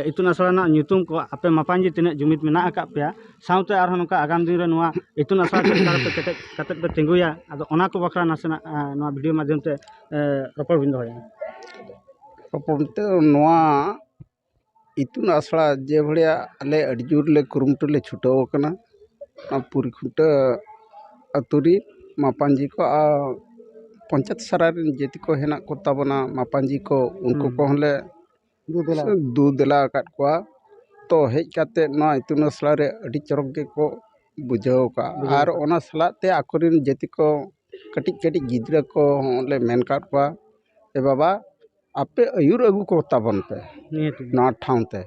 ᱤᱛᱩᱱ ᱟᱥᱲᱟ ᱨᱮᱱᱟᱜ ᱧᱩᱛᱩᱢ ᱠᱚ ᱟᱯᱮ ᱢᱟᱯᱟᱧᱡᱤ ᱛᱤᱱᱟᱹᱜ ᱡᱩᱢᱤᱫ ᱢᱮᱱᱟᱜ ᱟᱠᱟᱫ ᱯᱮᱭᱟ ᱥᱟᱶᱛᱮ ᱟᱨ ᱦᱚᱸ ᱱᱚᱝᱠᱟ ᱟᱜᱟᱢ ᱫᱤᱱ ᱨᱮ ᱱᱚᱣᱟ ᱤᱛᱩᱱ ᱟᱥᱲᱟ ᱪᱮᱫ ᱞᱮᱠᱟ ᱨᱮᱯᱮ ᱠᱮᱴᱮᱡ ᱠᱟᱛᱮᱫ ᱯᱮ ᱛᱤᱸᱜᱩᱭᱟ ᱟᱫᱚ ᱚᱱᱟ ᱠᱚ ᱵᱟᱠᱷᱨᱟ ᱱᱟᱥᱮᱱᱟᱜ ᱱᱚᱣᱟ ᱵᱷᱤᱰᱤᱭᱳ ᱢᱟᱫᱽᱫᱷᱚᱢ ᱛᱮ ᱨᱚᱯᱚᱲ ᱵᱤᱱ ᱫᱚᱦᱚᱭᱟ ᱨᱚᱯᱚᱲ ᱵᱚᱞᱛᱮ ᱱᱚᱣᱟ ᱤᱛᱩᱱ ᱟᱥᱲᱟ ᱡᱮ ᱵᱷᱟᱲᱟ ᱟᱞᱮ ᱟᱹᱰᱤ ᱡᱳᱨ ᱞᱮ ᱠᱩᱨᱩᱢᱩᱴᱩ ᱞᱮ ᱪᱷᱩᱴᱟᱹᱣ ᱠᱟᱱᱟ ᱱᱚᱣᱟ ᱯᱩᱨᱤ ᱠᱷᱩᱱᱴᱟᱹ ᱟᱹᱛᱩ ᱨᱮ ᱢᱟᱯᱟᱡᱤ ᱠᱚ ᱟᱨ ᱯᱚᱧᱪᱟᱭᱮᱛ ᱥᱟᱨᱟ ᱨᱮᱱ ᱡᱮᱛᱮ ᱠᱚ ᱦᱮᱱᱟᱜ ᱠᱚᱛᱟ ᱵᱚᱱᱟ ᱢᱟᱯᱟᱡᱤ ᱠᱚ ᱩᱱᱠᱩ ᱠᱚᱦᱚᱸ ᱞᱮ ᱫᱩ ᱫᱮᱞᱟ ᱟᱠᱟᱫ ᱠᱚᱣᱟ ᱛᱚ ᱦᱮᱡ ᱠᱟᱛᱮᱫ ᱱᱚᱣᱟ ᱤᱛᱩᱱ ᱟᱥᱲᱟ ᱨᱮ ᱟᱹᱰᱤ ᱪᱚᱨᱚᱠ ᱜᱮᱠᱚ ᱵᱩᱡᱷᱟᱹᱣ ᱠᱟᱜᱼᱟ ᱟᱨ ᱚᱱᱟ ᱥᱟᱞᱟᱜ ᱛᱮ ᱟᱠᱚ ᱨᱮᱱ ᱡᱟᱹᱛᱤ ᱠᱚ ᱠᱟᱹᱴᱤᱡ ᱠᱟᱹᱴᱤᱡ ᱜᱤᱫᱽᱨᱟᱹ ᱠᱚ ᱦᱚᱸ ᱞᱮ ᱢᱮᱱ ᱠᱟᱜ ᱠᱚᱣᱟ ᱮ ᱵᱟᱵᱟ ᱟᱯᱮ ᱟᱹᱭᱩᱨ ᱟᱹᱜᱩ ᱠᱚ ᱛᱟᱵᱚᱱ ᱯᱮ ᱱᱚᱣᱟ ᱴᱷᱟᱶ ᱛᱮ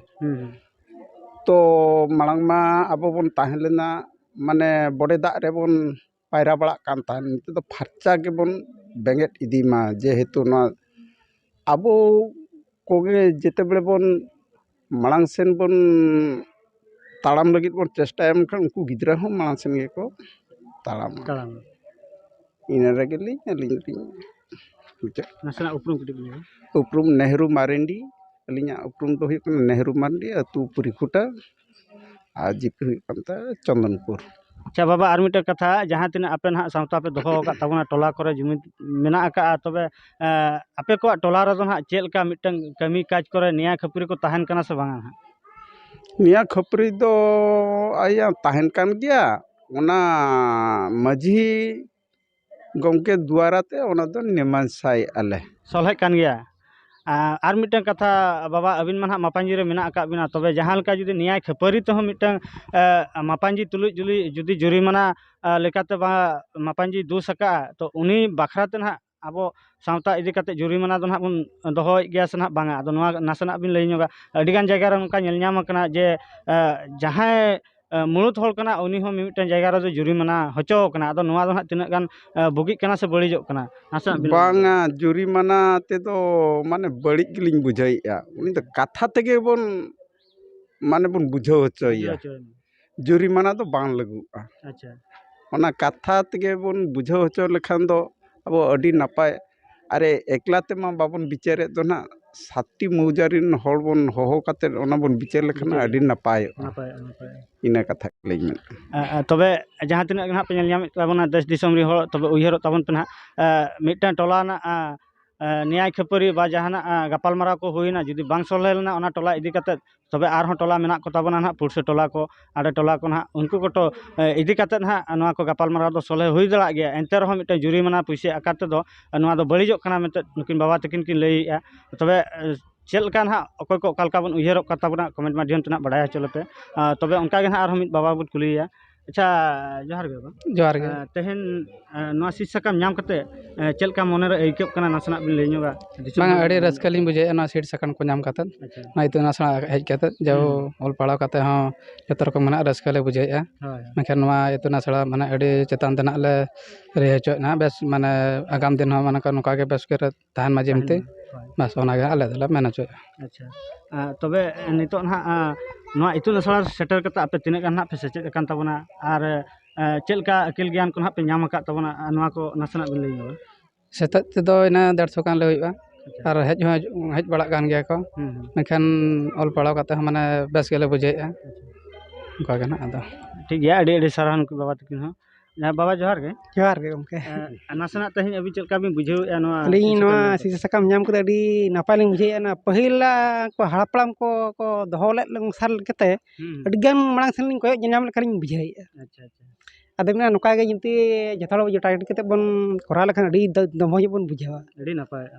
ᱛᱚ ᱢᱟᱲᱟᱝ ᱢᱟ ᱟᱵᱚ ᱵᱚᱱ ᱛᱟᱦᱮᱸ ᱞᱮᱱᱟ ᱢᱟᱱᱮ ᱵᱚᱰᱮ ᱫᱟᱜ ᱨᱮᱵᱚᱱ ᱯᱟᱭᱨᱟ ᱵᱟᱲᱟᱜ ᱠᱟᱱ ᱛᱟᱦᱮᱱ ᱱᱤᱛᱚᱜ ᱫᱚ ᱯᱷᱟᱨᱪᱟ ᱜᱮᱵᱚᱱ ᱵᱮᱸᱜᱮᱫ ᱤᱫᱤ ᱢᱟ ᱡᱮᱦᱮᱛᱩ ᱱᱚᱣᱟ ᱟᱵᱚ ᱠᱚᱜᱮ ᱡᱮᱛᱮ ᱵᱮᱲᱮ ᱵᱚᱱ ᱢᱟᱲᱟᱝ ᱥᱮᱱ ᱵᱚᱱ ᱛᱟᱲᱟᱢ ᱞᱟᱹᱜᱤᱫ ᱵᱚᱱ ᱪᱮᱥᱴᱟᱭᱟ ᱢᱮᱱᱠᱷᱟᱱ ᱩᱱᱠᱩ ᱜᱤᱫᱽᱨᱟᱹ ᱦᱚᱸ ᱢᱟᱲᱟᱝ ᱥᱮᱱ ᱜᱮᱠᱚ ᱛᱟᱲᱟᱢᱟ ᱛᱟᱲᱟᱢᱟ ᱤᱱᱟᱹ ᱨᱮᱜᱮ ᱞᱤᱧ ᱟᱹᱞᱤᱧ ᱫᱚᱞᱤᱧ ᱢᱩᱪᱟᱹᱫ ᱠᱮᱫᱟ ᱱᱟᱥᱮᱱᱟᱜ ᱩᱯᱨᱩᱢ ᱠᱟᱹᱴᱤᱡ ᱵᱤᱱ ᱞᱟᱹᱭᱟ ᱩᱯᱨᱩᱢ ᱱᱮᱦᱨᱩ ᱢᱟᱨᱮᱱᱰᱤ ᱟᱹᱞᱤᱧᱟᱜ ᱩᱯᱨᱩᱢ ᱫᱚ ᱦᱩᱭᱩᱜ ᱠᱟᱱᱟ ᱱᱮᱦᱨᱩ ᱢᱟᱨᱰᱤ ᱟᱹᱛᱩ ᱯᱩᱨᱤᱠᱷᱩᱴᱟ ᱟᱨ ᱡᱤᱯᱤ ᱦᱩᱭᱩᱜ ᱠᱟᱱ ᱛᱟᱭᱟ ᱪᱚᱱᱫᱚᱱᱯᱩᱨ ᱟᱪᱪᱷᱟ ᱵᱟᱵᱟ ᱟᱨ ᱢᱤᱫᱴᱮᱱ ᱠᱟᱛᱷᱟ ᱡᱟᱦᱟᱸ ᱛᱤᱱᱟᱹᱜ ᱟᱯᱮ ᱱᱟᱦᱟᱜ ᱥᱟᱶᱛᱟ ᱯᱮ ᱫᱚᱦᱚ ᱟᱠᱟᱫ ᱛᱟᱵᱚᱱᱟ ᱴᱚᱞᱟ ᱠᱚᱨᱮ ᱡᱩᱢᱤᱫ ᱢᱮᱱᱟᱜ ᱟᱠᱟᱫᱼᱟ ᱛᱚᱵᱮ ᱟᱯᱮ ᱠᱚᱣᱟᱜ ᱴᱚᱞᱟ ᱨᱮᱫᱚ ᱱᱟᱦᱟᱜ ᱪᱮᱫ ᱞᱮᱠᱟ ᱢᱤᱫᱴᱟᱹᱱ ᱠᱟᱹᱢᱤ ᱠᱟᱡᱽ ᱠᱚᱨᱮ ᱱᱮᱭᱟᱣ ᱠᱷᱟᱹᱯᱟᱹᱨᱤ ᱠᱚ ᱛᱟᱦᱮᱱ ᱠᱟᱱᱟ ᱥᱮ ᱵᱟᱝᱟ ᱱᱟᱦᱟᱜ ᱱᱮᱭᱟᱣ ᱠᱷᱟᱹᱯᱟᱹᱨᱤ ᱫᱚ ᱟᱭᱟ ᱛᱟᱦᱮᱱ ᱠᱟᱱ ᱜᱮᱭᱟ ᱚᱱᱟ ᱢᱟᱹᱡᱷᱤ ᱜᱚᱢᱠᱮ ᱫᱩᱣᱟᱨᱟ ᱛᱮ ᱚᱱᱟ ᱫᱚ ᱢᱤᱢᱟᱝᱥᱟᱭ ᱮᱫᱼᱟ ᱞᱮ ᱥᱚᱞᱦᱮᱜ ᱠᱟᱱ ᱜᱮᱭᱟ ᱟᱨ ᱢᱤᱫᱴᱟᱝ ᱠᱟᱛᱷᱟ ᱵᱟᱵᱟ ᱟᱹᱵᱤᱱ ᱢᱟ ᱦᱟᱸᱜ ᱢᱟᱯᱟᱡᱤ ᱨᱮ ᱢᱮᱱᱟᱜ ᱟᱠᱟᱫ ᱵᱤᱱᱟ ᱛᱚᱵᱮ ᱡᱟᱦᱟᱸ ᱞᱮᱠᱟ ᱡᱩᱫᱤ ᱱᱮᱭᱟᱭ ᱠᱷᱟᱹᱯᱟᱹᱨᱤ ᱛᱮᱦᱚᱸ ᱢᱤᱫᱴᱟᱝ ᱢᱟᱯᱟᱡᱤ ᱛᱩᱞᱩᱡ ᱡᱩᱫᱤ ᱡᱩᱫᱤ ᱡᱩᱨᱤᱢᱟᱱᱟ ᱞᱮᱠᱟᱛᱮ ᱵᱟᱝ ᱢᱟᱯᱟᱡᱤ ᱫᱳᱥ ᱟᱠᱟᱫᱼᱟ ᱛᱚ ᱩᱱᱤ ᱵᱟᱠᱷᱨᱟ ᱛᱮ ᱦᱟᱸᱜ ᱟᱵᱚ ᱥᱟᱶᱛᱟ ᱤᱫᱤ ᱠᱟᱛᱮᱫ ᱡᱩᱨᱤᱢᱟᱱᱟ ᱫᱚ ᱦᱟᱸᱜ ᱵᱚᱱ ᱫᱚᱦᱚᱭᱮᱫ ᱜᱮᱭᱟ ᱥᱮ ᱦᱟᱸᱜ ᱵᱟᱝᱟ ᱟᱫᱚ ᱱᱚᱣᱟ ᱱᱟᱥᱮᱱᱟᱜ ᱵᱤᱱ ᱞᱟᱹᱭ ᱧᱚᱜᱟ ᱟᱹᱰᱤ ᱜᱟᱱ ᱡᱟᱭᱜᱟ ᱨᱮ ᱱᱚᱝᱠᱟ ᱧᱮᱞ ᱧᱟᱢ ᱟᱠᱟᱱᱟ ᱡᱮ ᱡᱟᱦᱟᱸᱭ ᱢᱩᱬᱩᱛ ᱦᱚᱲ ᱠᱟᱱᱟᱭ ᱩᱱᱤ ᱦᱚᱸ ᱢᱤᱢᱤᱫᱴᱟᱝ ᱡᱟᱭᱜᱟ ᱨᱮᱫᱚ ᱡᱩᱨᱤᱢᱟᱱᱟ ᱦᱚᱪᱚ ᱟᱠᱟᱱᱟ ᱟᱫᱚ ᱱᱚᱣᱟ ᱫᱚ ᱦᱟᱸᱜ ᱛᱤᱱᱟᱹᱜ ᱜᱟᱱ ᱵᱩᱜᱤᱜ ᱠᱟᱱᱟ ᱥᱮ ᱵᱟᱹᱲᱤᱡᱚᱜ ᱠᱟᱱᱟ ᱱᱟᱥᱮᱱᱟᱜ ᱵᱤᱱ ᱵᱟᱝᱟ ᱡᱩᱨᱤᱢᱟᱱᱟ ᱛᱮᱫᱚ ᱢᱟᱱᱮ ᱵᱟᱹᱲᱤᱡ ᱜᱮᱞᱤᱧ ᱵᱩᱡᱷᱟᱹᱣᱮᱫᱼᱟ ᱩᱱᱤ ᱫᱚ ᱠᱟᱛᱷᱟ ᱛᱮᱜᱮ ᱵᱚᱱ ᱢᱟᱱᱮ ᱵᱚᱱ ᱵᱩᱡᱷᱟᱹᱣ ᱦᱚᱪᱚᱭᱮᱭᱟ ᱡᱩᱨᱤᱢᱟᱱᱟ ᱫᱚ ᱵᱟᱝ ᱞᱟᱹᱜᱩᱜᱼᱟ ᱟᱪᱪᱷᱟ ᱚᱱᱟ ᱠᱟᱛᱷᱟ ᱛᱮᱜᱮ ᱵᱚᱱ ᱵᱩᱡᱷᱟᱹᱣ ᱦᱚᱪᱚ ᱞᱮᱠᱷᱟᱱ ᱫᱚ ᱟᱵᱚ ᱟᱹᱰᱤ ᱱᱟᱯᱟᱭ ᱟᱨᱮ ᱮᱠᱞᱟ ᱛᱮᱢᱟ ᱵᱟᱵᱚᱱ ᱵᱤᱪᱟᱹᱨᱮᱫ ᱫᱚ ᱦᱟᱸᱜ ᱥᱟᱛᱴᱤ ᱢᱳᱣᱡᱟ ᱨᱮᱱ ᱦᱚᱲ ᱵᱚᱱ ᱦᱚᱦᱚ ᱠᱟᱛᱮᱫ ᱚᱱᱟ ᱵᱚᱱ ᱵᱤᱪᱟᱹᱨ ᱞᱮᱠᱷᱟᱱ ᱟᱹᱰᱤ ᱱᱟᱯᱟᱭᱚᱜᱼᱟ ᱱᱟᱯᱟᱭᱚᱜᱼᱟ ᱱᱟᱯᱟᱭᱚᱜᱼᱟ ᱤᱱᱟᱹ ᱠᱟᱛᱷᱟ ᱜᱮᱞᱤᱧ ᱢᱮᱱᱮᱫ ᱠᱟᱱᱟ ᱛᱚᱵᱮ ᱡᱟᱦᱟᱸ ᱛᱤᱱᱟᱹᱜ ᱜᱮ ᱦᱟᱸᱜ ᱯᱮ ᱧᱮᱞ ᱧᱟᱢᱮᱫ ᱛᱟᱵᱚᱱᱟ ᱫᱮᱥ ᱫᱤᱥᱚᱢ ᱨᱮᱱ ᱦᱚᱲ ᱛᱚᱵᱮ ᱩᱭᱦᱟᱹᱨᱚᱜ ᱛᱟᱵᱚᱱ ᱯᱮ ᱦᱟᱸᱜ ᱢᱤᱫᱴᱟᱱ ᱴᱚᱞᱟ ᱨᱮᱱᱟᱜ ᱱᱮᱭᱟᱭ ᱠᱷᱟᱹᱯᱟᱹᱨᱤ ᱵᱟ ᱡᱟᱦᱟᱱᱟᱜ ᱜᱟᱯᱟᱞᱢᱟᱨᱟᱣ ᱠᱚ ᱦᱩᱭᱱᱟ ᱡᱩᱫᱤ ᱵᱟᱝ ᱥᱚᱞᱦᱮ ᱞᱮᱱᱟ ᱚᱱᱟ ᱴᱚᱞᱟ ᱤᱫᱤ ᱠᱟᱛᱮᱫ ᱛᱚᱵᱮ ᱟᱨᱦᱚᱸ ᱴᱚᱞᱟ ᱢᱮᱱᱟᱜ ᱠᱚ ᱛᱟᱵᱚᱱᱟ ᱱᱟᱦᱟᱜ ᱯᱩᱲᱥᱤ ᱴᱚᱞᱟ ᱠᱚ ᱟᱲᱮ ᱴᱚᱞᱟ ᱠᱚ ᱱᱟᱦᱟᱜ ᱩᱱᱠᱩ ᱠᱚᱴᱚ ᱤᱫᱤ ᱠᱟᱛᱮ ᱱᱟᱦᱟᱜ ᱱᱚᱣᱟ ᱠᱚ ᱜᱟᱯᱟᱞ ᱢᱟᱨᱟᱣ ᱫᱚ ᱥᱚᱞᱦᱮ ᱦᱩᱭ ᱫᱟᱲᱮᱭᱟᱜ ᱜᱮᱭᱟ ᱮᱱᱛᱮ ᱨᱮᱦᱚᱸ ᱢᱤᱫᱴᱮᱱ ᱡᱩᱨᱤᱢᱟᱱᱟ ᱯᱩᱭᱥᱟᱹ ᱟᱠᱟᱨ ᱛᱮᱫᱚ ᱱᱚᱣᱟ ᱫᱚ ᱵᱟᱹᱲᱤᱡᱚᱜ ᱠᱟᱱᱟ ᱢᱮᱱᱛᱮ ᱱᱩᱠᱤᱱ ᱵᱟᱵᱟ ᱛᱟᱹᱠᱤᱱ ᱠᱤᱱ ᱞᱟᱹᱭᱮᱜᱼᱟ ᱛᱚᱵᱮ ᱪᱮᱫ ᱞᱮᱠᱟ ᱱᱟᱦᱟᱜ ᱚᱠᱚᱭ ᱠᱚ ᱚᱠᱟ ᱞᱮᱠᱟ ᱵᱚᱱ ᱩᱭᱦᱟᱹᱨᱚᱜ ᱠᱟᱱ ᱛᱟᱵᱚᱱᱟ ᱠᱚᱢᱮᱱᱴ ᱢᱟᱫᱽᱫᱷᱚᱢ ᱛᱮ ᱱᱟᱦᱟᱜ ᱵᱟᱲᱟᱭ ᱦᱚᱪᱚ ᱞᱮᱯᱮ ᱛᱚᱵᱮ ᱚᱱᱠᱟ ᱜᱮ ᱱᱟᱦᱟᱜ ᱟᱨᱦᱚᱸ ᱢᱤᱫ ᱵᱟᱵᱟ ᱵᱚᱱ ᱠᱩᱞᱤᱭᱮᱭᱟ ᱟᱪᱪᱷᱟ ᱡᱚᱦᱟᱨ ᱜᱮ ᱵᱟᱵᱟ ᱡᱚᱦᱟᱨ ᱜᱮ ᱮᱸ, ᱛᱮᱦᱮᱧ ᱮᱸ, ᱱᱚᱣᱟ ᱥᱤᱫ ᱥᱟᱠᱟᱢ ᱧᱟᱢ ᱠᱟᱛᱮ ᱮᱸ, ᱪᱮᱫ ᱞᱮᱠᱟ ᱢᱚᱱᱮᱨᱮ ᱟᱹᱭᱠᱟᱹᱜ ᱠᱟᱱᱟ ᱱᱟᱥᱮᱱᱟᱜ ᱵᱤᱱ ᱞᱟᱹᱭ ᱧᱚᱜᱟ ᱫᱤᱥᱚᱢ ᱵᱟᱝ ᱦᱚᱲ ᱟᱹᱰᱤ ᱠᱚ᱾ ᱨᱟᱹᱥᱠᱟᱹ ᱞᱤᱧ ᱵᱩᱡᱷᱟᱹᱣᱮᱫᱼᱟ ᱱᱚᱣᱟ ᱥᱤᱴ ᱥᱟᱠᱟᱢ ᱠᱚ ᱧᱟᱢ ᱠᱟᱛᱮᱫ ᱟᱪᱪᱷᱟ ᱱᱚᱣᱟ ᱤᱛᱩᱱ ᱟᱥᱲᱟ ᱦᱮᱡ ᱠᱟᱛᱮᱫ ᱡᱟᱣ ᱚᱞ ᱯᱟᱲᱦᱟᱣ ᱠᱟᱛᱮᱫ ᱦᱚᱸ ᱡᱚᱛᱚ ᱨᱚᱠᱚᱢ ᱢᱮᱱᱟᱜ ᱨᱟᱹᱥᱠᱟᱹ ᱞᱮ ᱵᱩᱡᱷᱟᱹᱣᱮᱫᱼᱟ ᱦᱳᱭ ᱢᱮᱱᱠᱷᱟᱱ ᱱᱚᱣᱟ ᱤᱛᱩᱱ ᱟᱥᱲᱟ ᱢᱟᱱᱮ ᱟᱹᱰᱤ ᱪᱮᱛᱟᱱ ᱛᱮᱱᱟᱜ ᱞᱮ ᱨᱤᱦᱟᱹ ᱦᱚᱪᱚᱭᱮᱫ ᱱᱟᱦᱟᱜ ᱵᱮᱥ ᱢᱟᱱᱮ ᱟᱜᱟᱢ ᱫᱤᱱ ᱦᱚᱸ ᱢᱟᱱᱮ ᱱᱚᱝᱠᱟ ᱜᱮ ᱵᱮᱥ ᱠᱚᱨᱮ ᱛᱟᱦᱮᱱ ᱢᱟ ᱡᱮᱢᱛᱤ ᱵᱟᱥ ᱚᱱᱟ ᱜᱮ ᱟᱞᱮ ᱫᱚᱞᱮ ᱢᱮᱱ ᱚᱪᱚᱭᱮᱜᱼᱟ ᱟᱪᱪᱷᱟ ᱛᱚᱵᱮ ᱱᱤᱛᱚᱜ ᱱᱟᱜ ᱱᱚᱣᱟ ᱤᱛᱩᱱ ᱟᱥᱲᱟ ᱨᱮ ᱥᱮᱴᱮᱨ ᱠᱟᱛᱮ ᱟᱯᱮ ᱛᱤᱱᱟᱹᱜ ᱜᱟᱱ ᱱᱟᱜ ᱯᱮ ᱥᱮᱪᱮᱫ ᱟᱠᱟᱱ ᱛᱟᱵᱚᱱᱟ ᱟᱨ ᱪᱮᱫ ᱞᱮᱠᱟ ᱟᱹᱠᱤᱞ ᱜᱮᱭᱟᱱ ᱠᱚ ᱱᱟᱜ ᱯᱮ ᱧᱟᱢ ᱟᱠᱟᱫ ᱛᱟᱵᱚᱱᱟ ᱱᱚᱣᱟ ᱠᱚ ᱱᱟᱥᱮᱱᱟᱜ ᱵᱮᱱ ᱞᱟᱹᱭ ᱧᱚᱜᱟ ᱥᱮᱛᱟᱜ ᱛᱮᱫᱚ ᱤᱱᱟᱹ ᱫᱮᱲᱥᱚ ᱜᱟᱱᱞᱮ ᱦᱩᱭᱩᱜᱼᱟ ᱟᱨ ᱦᱮᱡ ᱦᱚᱸ ᱦᱮᱡ ᱵᱟᱲᱟᱜ ᱠᱟᱱ ᱜᱮᱭᱟ ᱠᱚ ᱢᱮᱱᱠᱷᱟᱱ ᱚᱞ ᱯᱟᱲᱦᱟᱣ ᱠᱟᱛᱮ ᱦᱚᱸ ᱢᱟᱱᱮ ᱵᱮᱥ ᱜᱮᱞᱮ ᱵᱩᱡᱷᱟᱹᱣᱮᱜᱼᱟ ᱚᱱᱠᱟ ᱜᱮ ᱱᱟᱜ ᱟᱫᱚ ᱴᱷᱤᱠ ᱜᱮᱭᱟ ᱟᱹᱰᱤ ᱟᱹᱰᱤ ᱥᱟᱨᱦᱟᱣ ᱱᱩᱠᱩ ᱵᱟᱵᱟ ᱛᱟᱹᱠᱤᱱ ᱦᱚᱸ ᱦᱮᱸ ᱵᱟᱵᱟ ᱡᱚᱦᱟᱨ ᱜᱮ ᱡᱚᱦᱟᱨ ᱜᱮ ᱜᱚᱢᱠᱮ ᱱᱟᱥᱮᱱᱟᱜ ᱛᱮᱦᱮᱧ ᱟᱹᱵᱤᱱ ᱪᱮᱫ ᱞᱮᱠᱟ ᱵᱤᱱ ᱵᱩᱡᱷᱟᱹᱣᱮᱫᱼᱟ ᱱᱚᱣᱟ ᱟᱹᱞᱤᱧ ᱱᱚᱣᱟ ᱥᱤᱥᱟᱹ ᱥᱟᱠᱟᱢ ᱧᱟᱢ ᱠᱟᱛᱮᱫ ᱟᱹᱰᱤ ᱱᱟᱯᱟᱭ ᱞᱤᱧ ᱵᱩᱡᱷᱟᱹᱣᱮᱫᱼᱟ ᱱᱚᱣᱟ ᱯᱟᱹᱦᱤᱞᱟᱜ ᱠᱚ ᱦᱟᱯᱲᱟᱢ ᱠᱚ ᱠᱚ ᱫᱚᱦᱚ ᱞᱮᱫ ᱥᱟᱞ ᱞᱮᱠᱟᱛᱮ ᱟᱹᱰᱤ ᱜᱟᱱ ᱢᱟᱲᱟᱝ ᱥᱮᱫ ᱞᱤᱧ ᱠᱚᱭᱚᱜ ᱧᱮᱞᱧᱟᱢ ᱞᱮᱠᱟ ᱞᱤᱧ ᱵᱩᱡᱷᱟᱹᱣᱮᱫᱼᱟ ᱟᱪᱪᱷᱟ ᱟᱪᱪᱷᱟ ᱟᱫᱚ ᱢᱮᱱᱟ ᱱᱚᱝᱠᱟ ᱜᱮ ᱡᱩᱫᱤ ᱡᱚᱛᱚ ᱦᱚᱲ ᱡᱚᱴᱟᱭ ᱠᱟᱛᱮᱫ ᱵᱚᱱ ᱠᱚᱨᱟᱣ ᱞᱮᱠᱷᱟᱱ ᱟᱹᱰᱤ ᱫᱚᱢᱚᱡᱽ ᱵᱚᱱ ᱵᱩᱡᱷᱟᱹᱣᱟ ᱟᱹᱰᱤ ᱱᱟᱯᱟᱭᱚᱜᱼᱟ